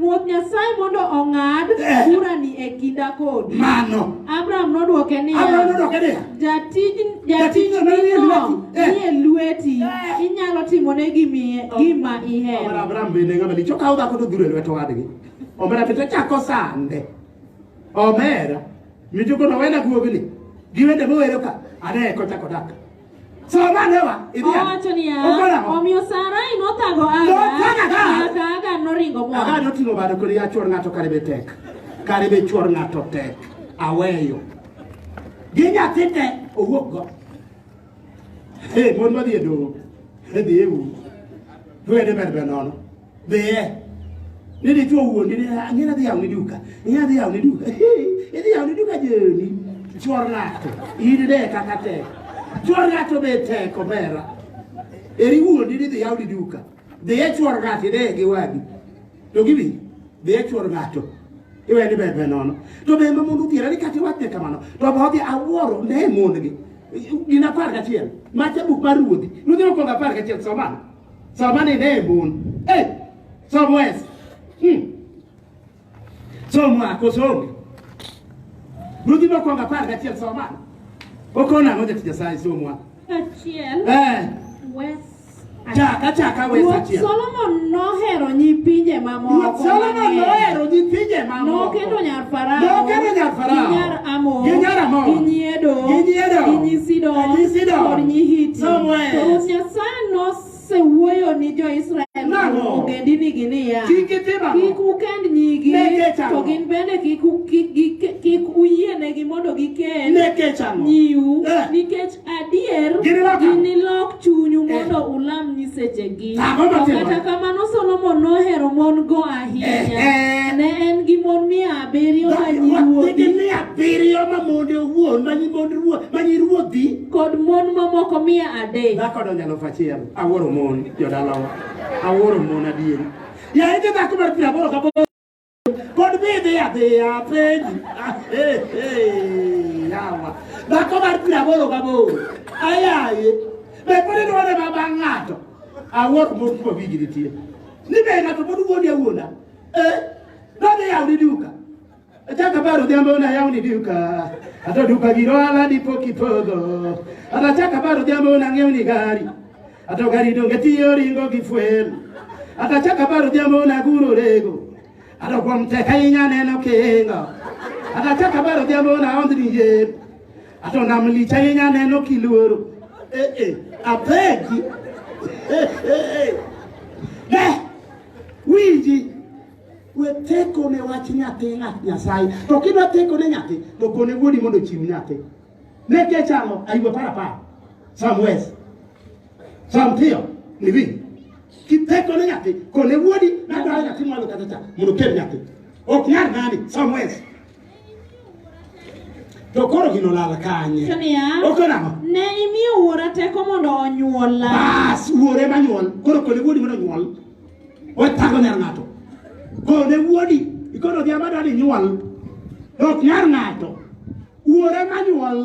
Ruoth Nyasaye mondo ong'ad Eh. burani e kinda kodi. Mano. Abram nodwoke niya, Abram nodwoke niya, "Jatij Jatijno ni e jatijnino lweti." Eh. ni e lweti, Eh. inyalo timone gimi- gima Omera ihero." Abraham bende ng'ama lich okawo dhako to dhuro e lwet owadgi. Omera bende ochako sande. Omera mijuko nowena guogni gi wende mowero ka ane kochako dak. Owacho niya, omiyo Sarai nothago Aga, nyaka Aga noringo moa. Aga noting'o bade kodi ya chwor ng'ato kare be tek. Kare be chwor ng'ato tek. Aweyo. Gi nyathi te owuok go. Hey, mon madhi e doho. Hedhi e u. Dwede ber be nono. Dhiye. Ni dichuo wuondi ni ang'e nadhi yawo ni duka. Ing'e nadhi yawo ni duka. Idhi yawo ni duka joni. Chuor ng'ato. In de kaka tek. Chuor ng'ato be tek omera. Eri wuondi ni dhi yawo ni duka. Dhiye chuor ng'ato ide gi wadi. To gibi. Dhiye chuor ng'ato. Iwe ni bebe nono. To be ma mundu thiera ni kati wate kamano. To ba odhi awuoro ne mondgi. Gina par kachiel. Macha buk mar ruodhi. Ruodhi okonga par kachiel somano. Somani ne bun. Eh, somo es. Hmm. Somo ako somo. Rudi mo konga par ga tiel soma. Okona ngoja tija sai somo. Achiel. Eh. Wes. Chaka chaka wes Ruoth achiel. Solomon nohero nyipinje mamoko. Ruoth Solomon mang'eny. nohero nyipinje mamoko. Nokendo nyar Nokelo nyar Farao, gi nyar Amon, gi nyi Edom, gi nyi Sidon, kod nyi Hiti. To Ruoth Nyasaye nosewuoyo ni jo-Israel ogendinigi niya, kik ukend nyigi, to gin bende kik uyienegi mondo gikend nyiu, eh. nikech Adier, Ginilok ang'o? ginilok chunyu mondo ulam nyisechegi. Ang'o To matimore? kata kamano Solomon nohero mon-go ahinya. Ehe. Ne en gi mon mia abiriyo ma Nigi nyiruodhi mia abiriyo ma monde owuon, ma nyi mond ruoth, ma nyi ruodhi. kod mon mamoko mia adek. Dhako donjo elfu achiel. Awuoro mon jodalawa. Awuoro mon adieri. Yaye jodhako mar piero aboro gaboro Pod be idhi adhiya penji. Ah, eh, eh, yawa. Dhako mar piero aboro gaboro. Ayaye. Be pod idware ma bang' ng'ato. Awuoro mos ma wigi nitie. Ni be ng'ato pod wuondi awuonda. Eh, nodhi yawo ni duka. Achaka baro odhiambo na yawo ni duka. Ato duka giro ala dipo kipodho. Atachaka baro odhiambo na ng'iewo ni gari. Ato gari donge tiyo ringo gi fuel. Ato chaka baro jambo na guro rego. Ato kwa mteka inya neno kinga. Ato chaka baro jambo na ondri ye. Ato na mlicha inya neno kiloro. Eh eh. Abegi. Eh eh eh. Ne. Wiji. We teko ne wach nyathi ng'at Nyasaye. To kidwa teko ne nyathi, to kone wuodi mondo chiw nyathi. Neke chamo aiwe para pa. Samwes. Samtio ni vi. Kiteko ne nyati kone wuodi na dwa nyati mwalo kata cha. Muno kel nyati. Ok nyar nani Samwes. To koro gino lala kanye. Kania. Oko namo. Ne imiyo wuora teko mondo onyuola. Bas wuore ma nyuol. Koro kone wuodi mondo nyuol. Watago nyar ng'ato. Kone wuodi. Ikono dhiamada ni nyuol. Ok nyar ng'ato. Wuore manyuol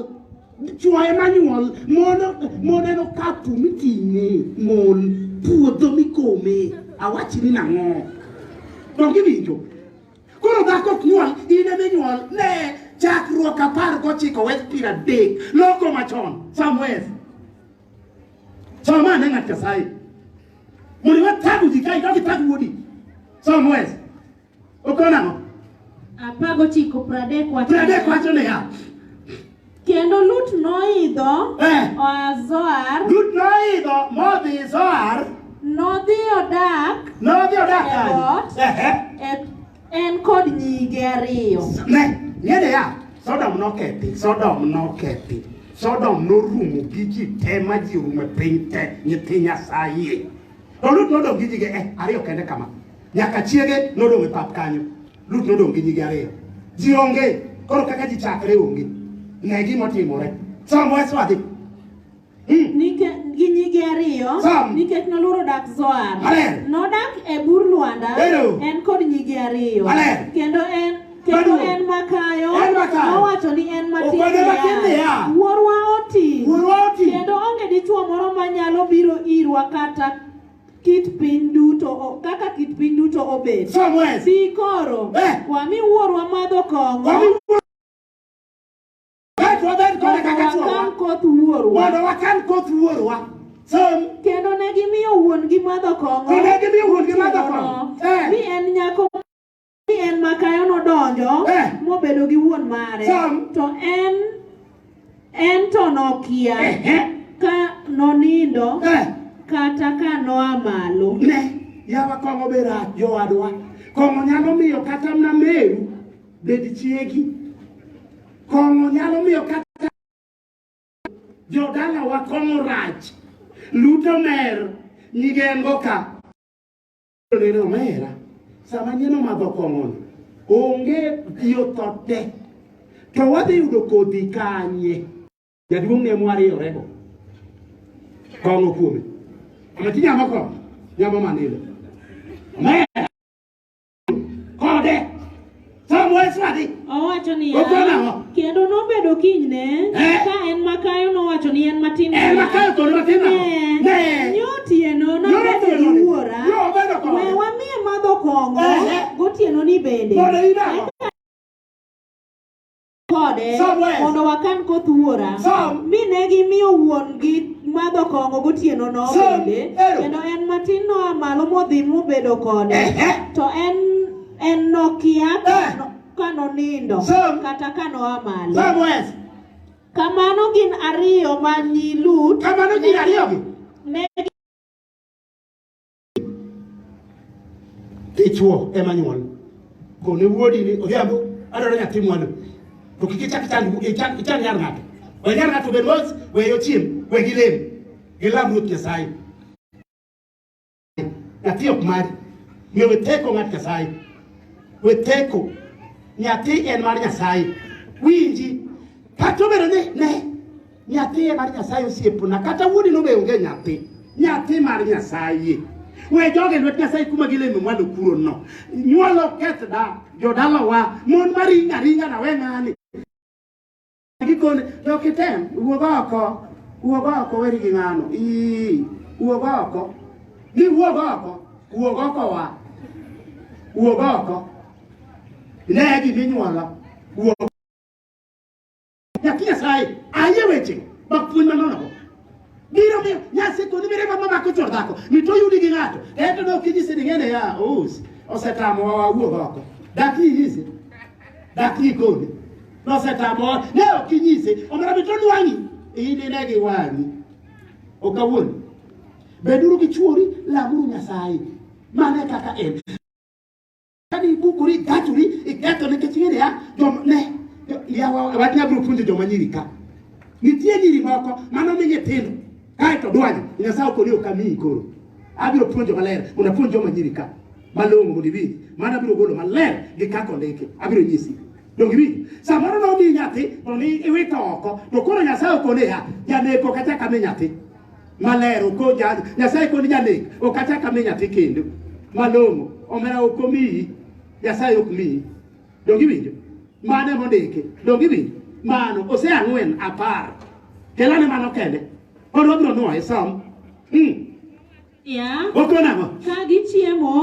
chwaye manyuol mono moneno kapu miting'e mon puodho mikome awachi ni nang'o donge winjo koro dhako ok nyuol in eme nyuol ne chakruok apar gochiko wes piero adek loko machon samwes samane ng'at nyasaye mondo iwe tago ji ka idog itag wuodi samwes Okona ang'o? Apar gochiko pradek wacho. Pradek wacho niya. Kendo Lut noidho eh. oa Zoar. Lut noidho modhi Zoar. Nodhi odak. Nodhi odak kanye? En kod nyige ariyo. Ne, ng'e niya, Sodom nokethi, Sodom nokethi. Sodom norumo gi ji te ma ji orumo e piny te, nyithi Nyasaye. To Lut nodong' gi nyige eh, ariyo kende kama. Nyaka chiege nodong' e pap kanyo. Lut nodong' gi nyigi ariyo. Ji onge, koro kaka ji chakre onge. Ne gima otimore. Sam wes wadhi. Hmm. Nikech gi nyigi ariyo nikech noluoro dak Zoar. Nodak e bur Lwanda en kod nyigi ariyo. Kendo en kendo en makayo nowacho ni en matin niya wuorwa oti kendo onge dichwo moro manyalo biro irwa kata kit piny duto o- kaka kit piny duto obet Somewhere. bi koro Eh. wami wuorwa madho kong'o Wami wuoro. Kaeto wabed kode kaka wakan chwowa. koth wuorwa Mondo wakan koth wuorwa. Som. kendo ne gimiyo wuon-gi madho kong'o Kendo ne gimiyo wuon-gi madho kong'o. Eh. mi en nyako Ni en makayo nodonjo Eh. mobedo gi wuon mare Sam. to en en to nokia Ehe. ka nonindo Eh. kata ka noa malo. Ne, yawa kong'o be rach jowadwa. Kong'o nyalo miyo kata mna meru bed chiegi. Kong'o nyalo miyo kata jodalawa kong'o rach. Luto mer nyigengo ka. Rere omera, sama nyien omadho kong'ono, onge yo tho te. To wadhi yudo kodhi kanye? Jaduong' ne mwariyorego. Kong'o kuome. Ama ti nyamo kong'o, nyamo manilo. Omera. Thumb wise nadi? Owacho niya, Ogolo ang'o? kendo nobedo kinyne Eh. ka en makayo nowacho ni en matin En makayo kod matin ang'o? Ne. Ne. nyotieno Nyotieno nobedo ni. ni wuora Yo, obedo kode. we wamiye madho kong'o Eh. gotieno ni bende Mondo iyud ang'o? kode Somewhere. mondo wakan koth wuora Some. mi ne gimiyo wuon-gi madho kong'o gotienono Some. bende Ero. kendo en matin noa malo modhi mobedo kode Ehe. to en en nokia Eh. ka no- ka nonindo Some. kata ka noa malo Somewhere. kamano gin ariyo ma nyi Lut Kamano ji ariyogi. ne Dichwo ema nyuol. Kone wuodi ni odhiambo adwaro nyathi mwandu. To kik ichak chand ichak ichand nyar ng'ato. We nyar ng'ato bed mos, we ochiem, we gilem. Gilam Ruoth Nyasaye. Nyathi ok mari. Miyo we teko ng'at Nyasaye. We teko. Nyathi en mar Nyasaye. Winji. Kata obedo ni ne Nyathi mar Nyasaye osiepna, kata wuodi nobe onge nyathi. Nyathi mar Nyasaye. We joge lwet Nyasaye kuma gileme mwalo kuro no. Nyuolo keth da, jodala wa, mon maringa ringa na we ng'ani. Gikone, to kitem, wuog oko, wuog oko weri gi ng'ano. Ii, wuog oko. Ni wuog oko, wuog oko wa. Wuog oko. Ne giminyuolo. Wuog Nyathi Nyasaye ayie weche ma puonj manonogo biro miyo nyasiko ni mirima mamako chor dhako mi to yudi gi ng'ato ento ne ok inyise ni ng'ene ya ous osetamowa wawuog oko daki inyise daki ikone nosetamowa ne ok inyise omera mi to nwang'i inine gi wang'i ok awuon beduru gi chuori lamuru nyasaye mane kaka en Kani ibuku ri gachu ri iketo ne kechingere ya jom ne ya wa wati ya buru punje joma nyiri ka. Nitie nyiri moko mano mi nyithindo. Kae to dwani Nyasaye okoni okamiyi koro. Abiro punjo maler mondo apunj joma nyiri ka. Malong'o mondo iwinj. Mano abiro golo maler gi kako ndeke. Abiro nyisi. Donge iwinjo? Samoro nomi nyathi to ni iwito oko. To koro Nyasaye okoni ya janeko kata kame nyathi. maler okoja nyasaye kod janek ok achak ami nyathi kendo malong'o omera ok omiyi nyasaye ok miyi donge iwinjo mano ema ondiki donge iwinjo mano ose ang'wen apar kelane mano kende koro wabiro nwoye som mm. Yeah. Wako nang'o? Ka gichiemo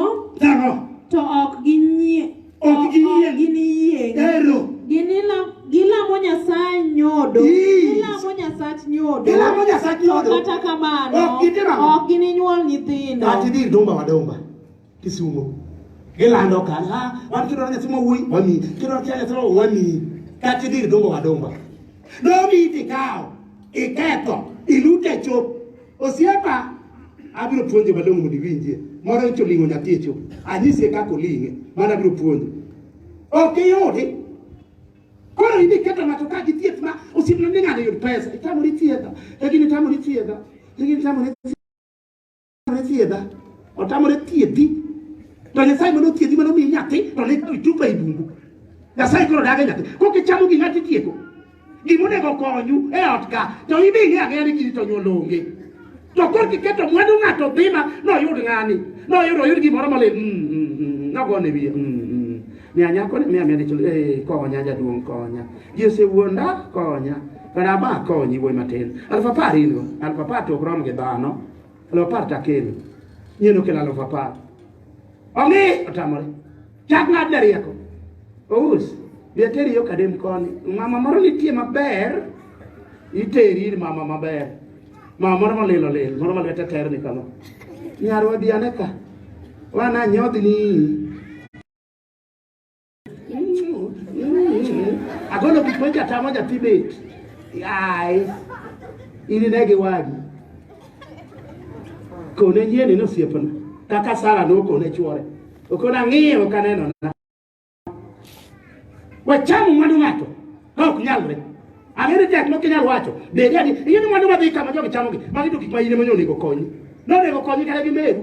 Nang'o? to ok ginyie Ok giyieng'. ok giniyieng'. Ero. Ginila- Gilamo Nyasaye nyodo. Yes. Gilamo Nyasach nyodo. Gilamo Nyasach nyodo. To Kata kamano Ok gitimo ang'o? ok gininyuol nyithindo. Ati dhi dumba wa dumba. Kisumo. Gilando ka, ah, wan kidwa nyathi ma wuoyi, wami, kidwa kia nyathi ma wami, kata idhi idumbo wadumba. Domi idhi kawo, iketho, ilute chop. Osiepa, abiro puonjo malong'o mondo iwinjie. Moro nyicho ling'o nyathi e chop. Anyise kaka oling'e, mano abiro puonjo. Ok iyudi. Koro idhi keto ng'ato ka gi thieth ma osiepna ni ng'ani yud pesa. Itamori thiedha, lakini itamori thiedha, lakini itamori thiedha. otamore thiedha otamore thiedhi to nyasaye mane othiedhi mane omiyi nyathi to ne itupa e bungu nyasaye koro dage nyathi kokichamo gi ng'ati tieko gimonego konyu e ot ka to ibi ing'e ang'eya ni gini to nyuol onge to kor kiketo mwandu ng'ato dhima noyud ng'ani noyud oyud gimoro mole mm, mm, mm, nogone wiye miya nyako ni miya miya dichul eh, konya jaduong' konya ji osewuonda konya Baraba konyi wuoyi matin. Alfa apar in go. Alfa apar to ok rom gi dhano. Alo par ta kelo. Nyeno kelo alo fa par. Ongi otamore. Chak ng'ad da rieko. Ous. Bia teri yo kadem koni. Mama moro nitie maber. Iteri ir mama maber. Mama moro molilo lil. Moro malwete ter ni kama. Nyarwa biane ka. Wana nyodhi ni. Agolo gik ma jata ma jathi bet. Ai. Ini ne gi wagi. Kone nyieni no siepna. Kaka Sara no kone chuore. Okona ng'iyo ka neno na. Wacham mwandu ng'ato. Ka ok nyalre. Ang'ere tek ma kinyal wacho. Bedi adi. Iyeni mwandu ma dhi kama jogi chamogi. Magi to gik ma ine ma onego konyi. Nonego konyi kata gi meru.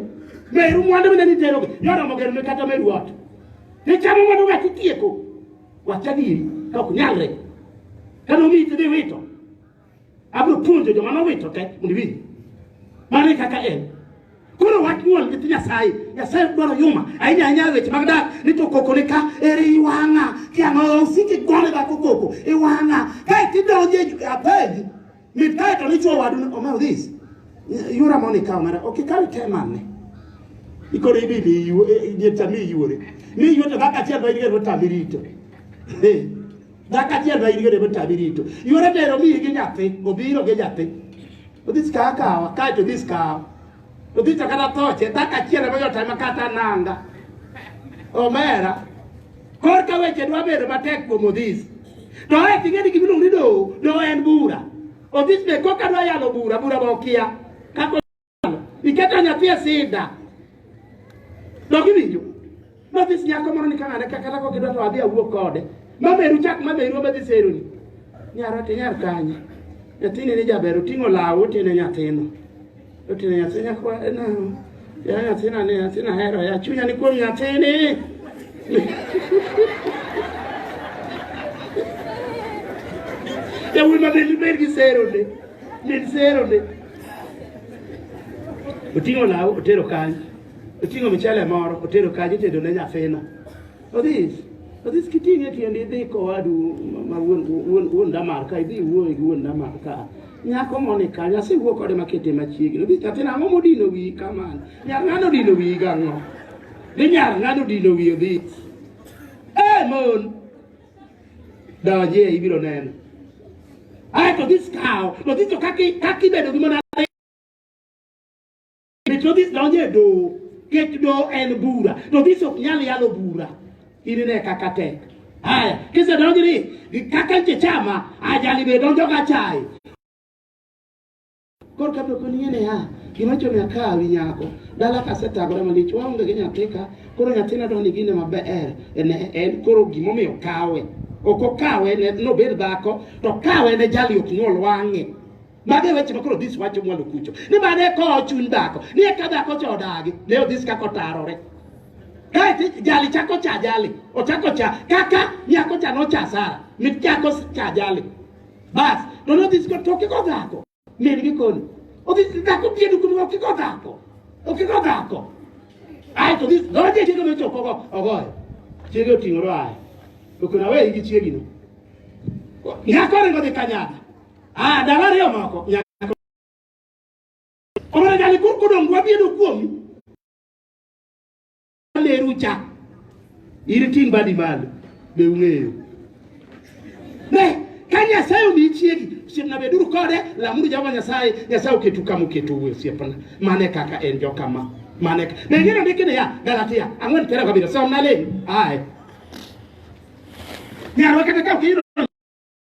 Meru mwandu mine niterogi. Yoromo gero ne kata meru ot. Ne chamo mano ng'at itieko. Wach adieri ka ok nyalre. Ka nomiyi to dhi wito. Abiro puonjo joma nowito te mondo iwinj. Mano e kaka en. Koro wach nyuol nyithi Nyasaye. Nyasaye ok dwaro yuma. Ahinya ahinya e weche mag dak ni to koko ni ka ere iwang'a. Kiang'o osiki gone dhako koko. Iwang'a. Kae tidonjo e apenji. Mit kae to nichwo wadu ni Omar this. Yura moni kawo mara. Ok ikawe te manne. Ikoro ibi ibi iwo iye tami iwore. Mi iwo to kaka chiel bayi gero tami rito. Eh. Kaka chiel bayi gero tami rito. Yura dero mi gi nyathi obiro gi nyathi. Odhis kawa kawa kae to odhis kawa. Odhicho kata toche dhako achiel ema yot ema kata nanga omera korka weche dwa bedo matek kuom odhis to e ting'e ni gimiluongo ni doho doho en bura odhis be koka dwa yalo bura bura be okia kaka iketo nyathi e sida dogiwinjo Mathis nyako moro ni kanane ka kata kok idwa to adhi awuo kode. Mameru chak mameru obadhi seroni. Nyaro ti nyar kanye. Nyathini ni jaber oting'o law otene nyathino. Otene nyathi nyako na ya nyathina ni nyathina hero ya chunya ni kuom nyathini. Yawuoyi ma bed bed gi seroni. Bed seroni. Oting'o law otero kanye. Oting'o michele moro, otero kaji itedo ne nyathina. Odhis, odhis kiting'e tiendi idhi kowadu ma wuon wuon wuon damar ka idhi wuoyo gi wuon damar ka. Nyako moni ka nyasi wuo kode makete machiegni. Odhis nyathina ang'o modino wiyi kamano? Nyar ng'ano odino wiyi gang'o? Ni nyar ng'ano odino wiyi odhis? Eh mon! Donjie ibiro neno. Ae to odhis kawo, to odhis to kaki kaki bedo gi mona Kech nodhis donjo e doho. Kech doho en bura. To dhis ok nyal yalo bura. Inine kaka tek. Haya, kise donjo ni kaka nche chama ajali be donjo ka chai. Kor ka to koni ne ha. Kino cho me ka wi nyako. Dala ka se tagora malich wa unge genya teka. Koro nyathi na doni gine mabe er. En en koro gimo me okawe. Oko kawe ne no ber dhako to kawe ne jali ok nyol wange. Mage weche ma koro this wacho mwalo kucho. Ni ma ne kowo chuny dhako. Ni eka dhako cha odagi. Ne odhis kaka otarore. Kae jali chako cha jali. Ochako cha kaka nyako cha nocha Sara. Mit chako cha jali. Bas. To ne odhis to kiko dhako. Min gi koni. Odhis dhako piedu kuni okiko dhako. Okiko dhako. Ai to this doje chiege no choko go ogoyo. Chiege oting'o ro ai. To kuna weyi gi chiegino. Nyako ringo dhi kanyaka. Ah, dala ariyo moko nyako. Omara jali kur kodong wabiedo kuomi. Leru cha. Iri ting' badi malo. Be ung'eyo. Ne, ka Nyasaye omi chiegi, osiepna beduru kode, lamuru Jehova Nyasaye, Nyasaye oketu kama oketo uwe osiepna. Mane kaka en jokama. Mane kaka. Ne ngero ndiki niya, Galatia, ang'wen piero gabiriyo, somna leni. Aye. Nyarwa kata ka ok iyudo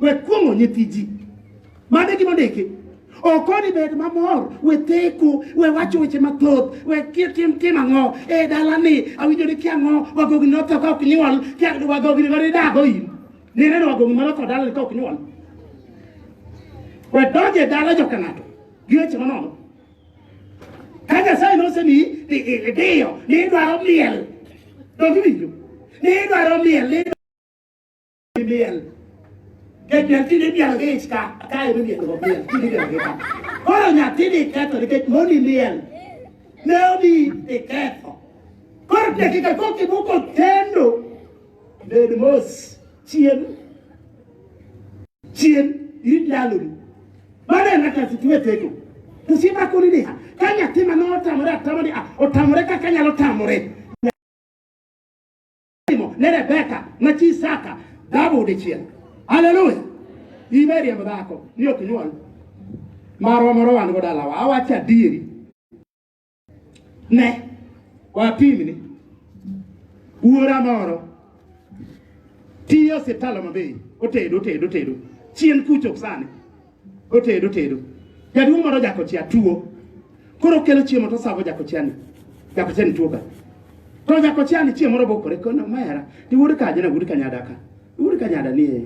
We kuong'o nyithi ji. Mane gima ndiki. Okoni bed mamor, we theko, we wacho weche mathoth, we tim tim ang'o e dalani, awinjo ni kia ang'o, wagogi notho ka ok nyuol, kia wagogi nigo nidago in. Nineno wagogi manotho dalani ka ok nyuol. We donj e dala joka ng'ato, gi weche manono. Ka Nyasaye nosemiyi i- i- idiyo, ni idwaro miel, donge iwinjo? Ni idwaro miel, ni miel kendo tinde miel gi ich ka kae mi miel go miel tinde miel gi ka koro nyathi ni ketho nikech moni miel ne obi ni ketho koro dakika koki moko tendo bed mos chien chien in ndaloni mano en kaka situwe tego to simakoni niha ka nyathi ma notamore atamore otamore kaka nyalo tamore Ibrahim ne Rebecca ma chi Isaka dhabu dichiel. Haleluya. Imeri em dhako ni ok nyuol. Marwa moro wan go dalawa awacho adieri. Ne wapimni wuora moro tiyo osiptal Homa Bay otedo otedo otedo chien kucho sani Otedo tedo. Jaduong' moro jakochia tuo. Koro kelo chiemo to savo jakochia ni. Jakochia ni tuo ka. To jakochia ni chiemo robo kore kono mera. Ni wuod kaje na wuod kanyada ka. Wuod kanyada ni. Eh.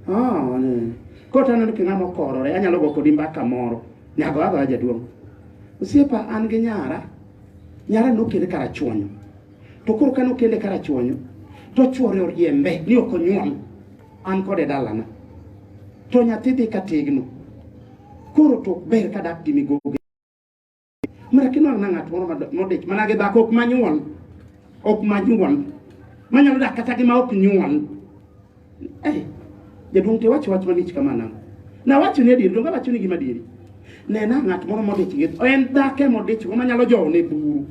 Ah, ne. Koro to aneno king'a mokorore. Anyalo go kodi mbaka moro. Nyago ago jaduong'. Osiepa an gi nyara. Nyara nokele karachuonyo. To koro kano kele karachuonyo. To chuore oriembe ni ok onyuol. an kod e dalana to nyathi dhi ka tegno koro to ber ka dak gi migogi mara kinwang' na ng'at moro modich mana gi dhako ok manyuol ok manyuol manyalo dak kata gi ma ok nyuol eh, jaduong' to iwacho wach malich kama nang'o nawacho ni adieri donge awacho ni gima adieri nena ng'at moro modich gi en dhako emodich go manyalo jowone buru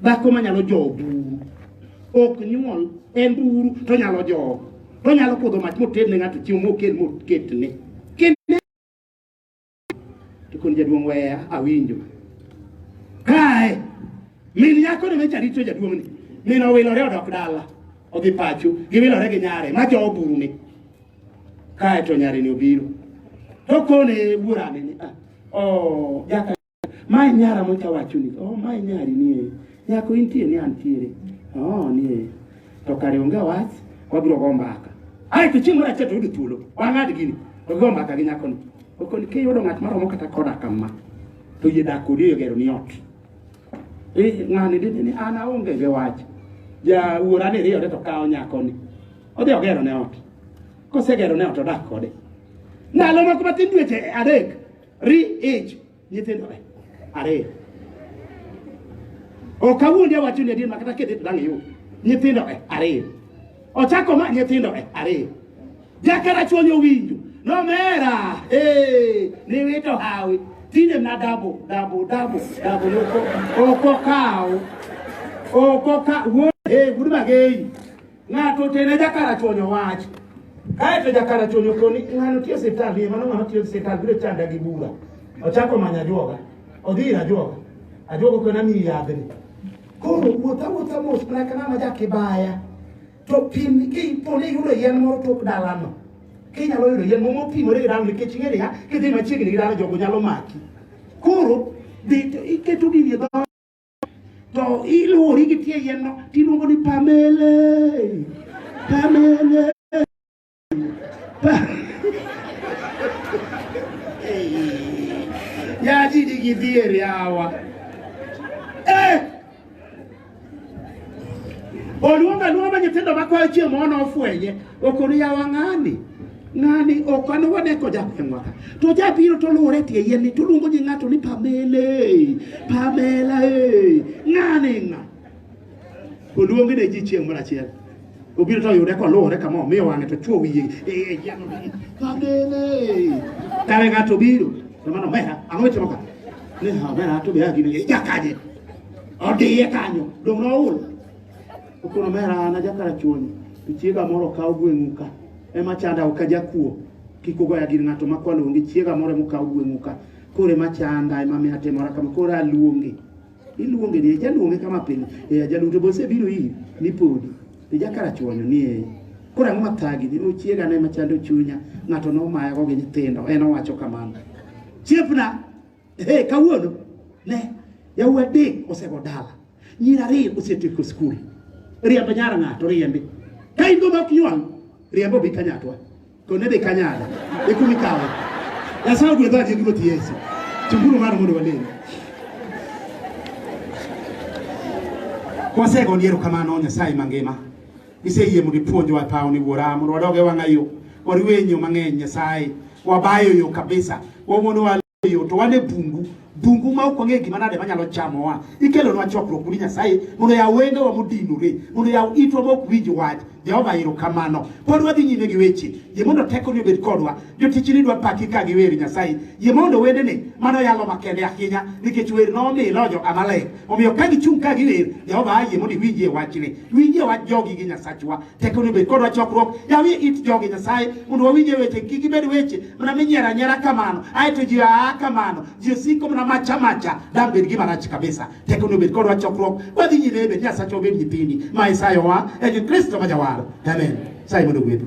Dhako manyalo jowo buru ok nyuol en buru to nyalo jowo to nyalo kudho mach moted ne ng'ato chiemo mokel moketne kendo to kon jaduong' weya awinjo kae min nyako ne mecha rito jaduong' ni min owilore odok dala odhi pacho giwilore gi nyare ma jowo buru ni kae to nyare ni obiro to kone wuorane ni ah, oh, jaka Mae nyara mocha wacho ni, oh mae nyari nie. Nyako intie ni antiere. Oh nie. To kare onge wach, wabiro go mbaka. Ai to chieng' moro achiel to yudo thuolo. Wang'ad gini. To go mbaka gi nyako ni. Okoni ke yudo ng'at maromo kata koda kama. To yie dak kodi e gero ni ot. Eh ng'ani dende ni an aonge gi wach. Ja wuora ni riyo to kawo nyako ni. Odhi ogero ne ot. Kosegero ne ot odak kode. Ndalo moko matin dweche adek. Ri age nyithindore ariyo. Ok awuondi awacho ni adier ma kata kidhi to dang' iyud nyithindore ariyo. Ochako ma nyithindore ariyo. Jakera chuonyo winjo nomera eh niwito hawi tinde na dabo dabo dabo dabo yoko oko kawo oko ka wuod eh wuod magei Ng'ato otene jakarachuonyo wach. Kaeto jakarachuonyo koni ng'ano tiyo siptal ni mano ng'ano tiyo siptal biro chanda gi bura. Ochako manya juoga. Odhi ira juoga. Ajuoga kona mi yadhni. Koro wuotha wuotha mos mana kana ma jakibaya. To pim ki poni yudo yien moro tok dalano. Kinyalo yudo yien moro mopimore gi dalano nikech ing'e niya kidhi machiegni gi dalano jogo nyalo maki. Koro dhi iketo gini e to ilwori gi tie yien no tiluongo ni pamele pamele pa yaji nigi dhier yawa eh! oluongo aluonga nyithindo makwayo chieng' mono ofwenye okoni yawa ng'ani ng'ani ok an wane ko jagweng'wa ka to jabiro to luwore tie yien ni to luongo ji ng'ato ni pamela e pamela e ng'ani ng'a oluongi ne ji chieng' moro achiel obiro to oyude koluwore kama omiyo wang'e to chwo wiye e yien ni pamela e kare ng'ato biro to mano mera ang'o mitimo ka ni ha mera to be agine jakaje odiye kanyo dong' noul Okuno mera an ajakarachuonyo to chiega moro kawo gweng'u ka ema chanda ok ajakuo kik ugoya gir ng'ato ma kwalo onge chiega moro ema okawo gweng'u ka koro ema chanda ema miyo atimora kama koro aluonge iluonge ni jaluonge kama pile e ajaluto bose biro iri ni podi e jakarachuonyo ni e koro ang'o mathagi ni ochiega ne machando chunya ng'ato nomayago gi nyithindo en owacho kamano chiepna Hey, kawuono ne yau adek osego dala, nyiri ariyo osetieko skul. Riembo nyara ng'ato riembi. Ka in go mok ywang', riembo bi kanyatwa. Kone dhi kanyada. Ikumi kawe. Nyasaye ogwedho adier ruoth Yesu. Chunguru mano mondo walem. Kwasego ndiero kamano Nyasaye mangima. Iseyie mondo ipuonjwa e pawni wuora mondo wadog e wang'a yo. Wariwe e yo mang'eny Nyasaye. Wabayo yo kabisa. Wamono wa yo to wan e bungu. Bungu ma ok wang'e gima nade manyalo chamowa. Ikelonwa chokruok ni Nyasaye mondo yaw wengewa modinore, mondo yaw itwa ma ok winj wach. Jehova erokamano. Pod wadhi nyime gi weche. Yie mondo tekoni obed kodwa. jotichni dwa paki ka giwer Nyasaye. Yie mondo wendene mano yalo makende ahinya nikech wer nomilo jo Amalek. Omiyo ka gichung' ka giwer, Jehova ayie mondo iwinjie wachni. Winjie wach jogi gi Nyasachwa. Teko ni bed kodwa chokruok. Yawie it jogi Nyasaye mondo wawinjie weche kik gibed weche mana minyiero anyiera kamano. Ae to ji aa kamano. Ji osiko mana macha macha. Dang' bed gima rach kabisa. Teko ni bed kodwa chokruok. Wadhi nyime bed Nyasachwa obed nyithindi. Ma Isayowa e Kristo ma jawar. Amen. Sai mondo gwedhu.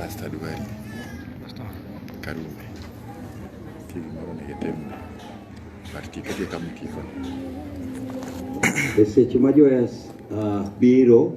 Pastor Duali. Pastor. Karume. Kili moro ne getemu. Parti kete kama kiko. Eseche ma Joyas uh, biro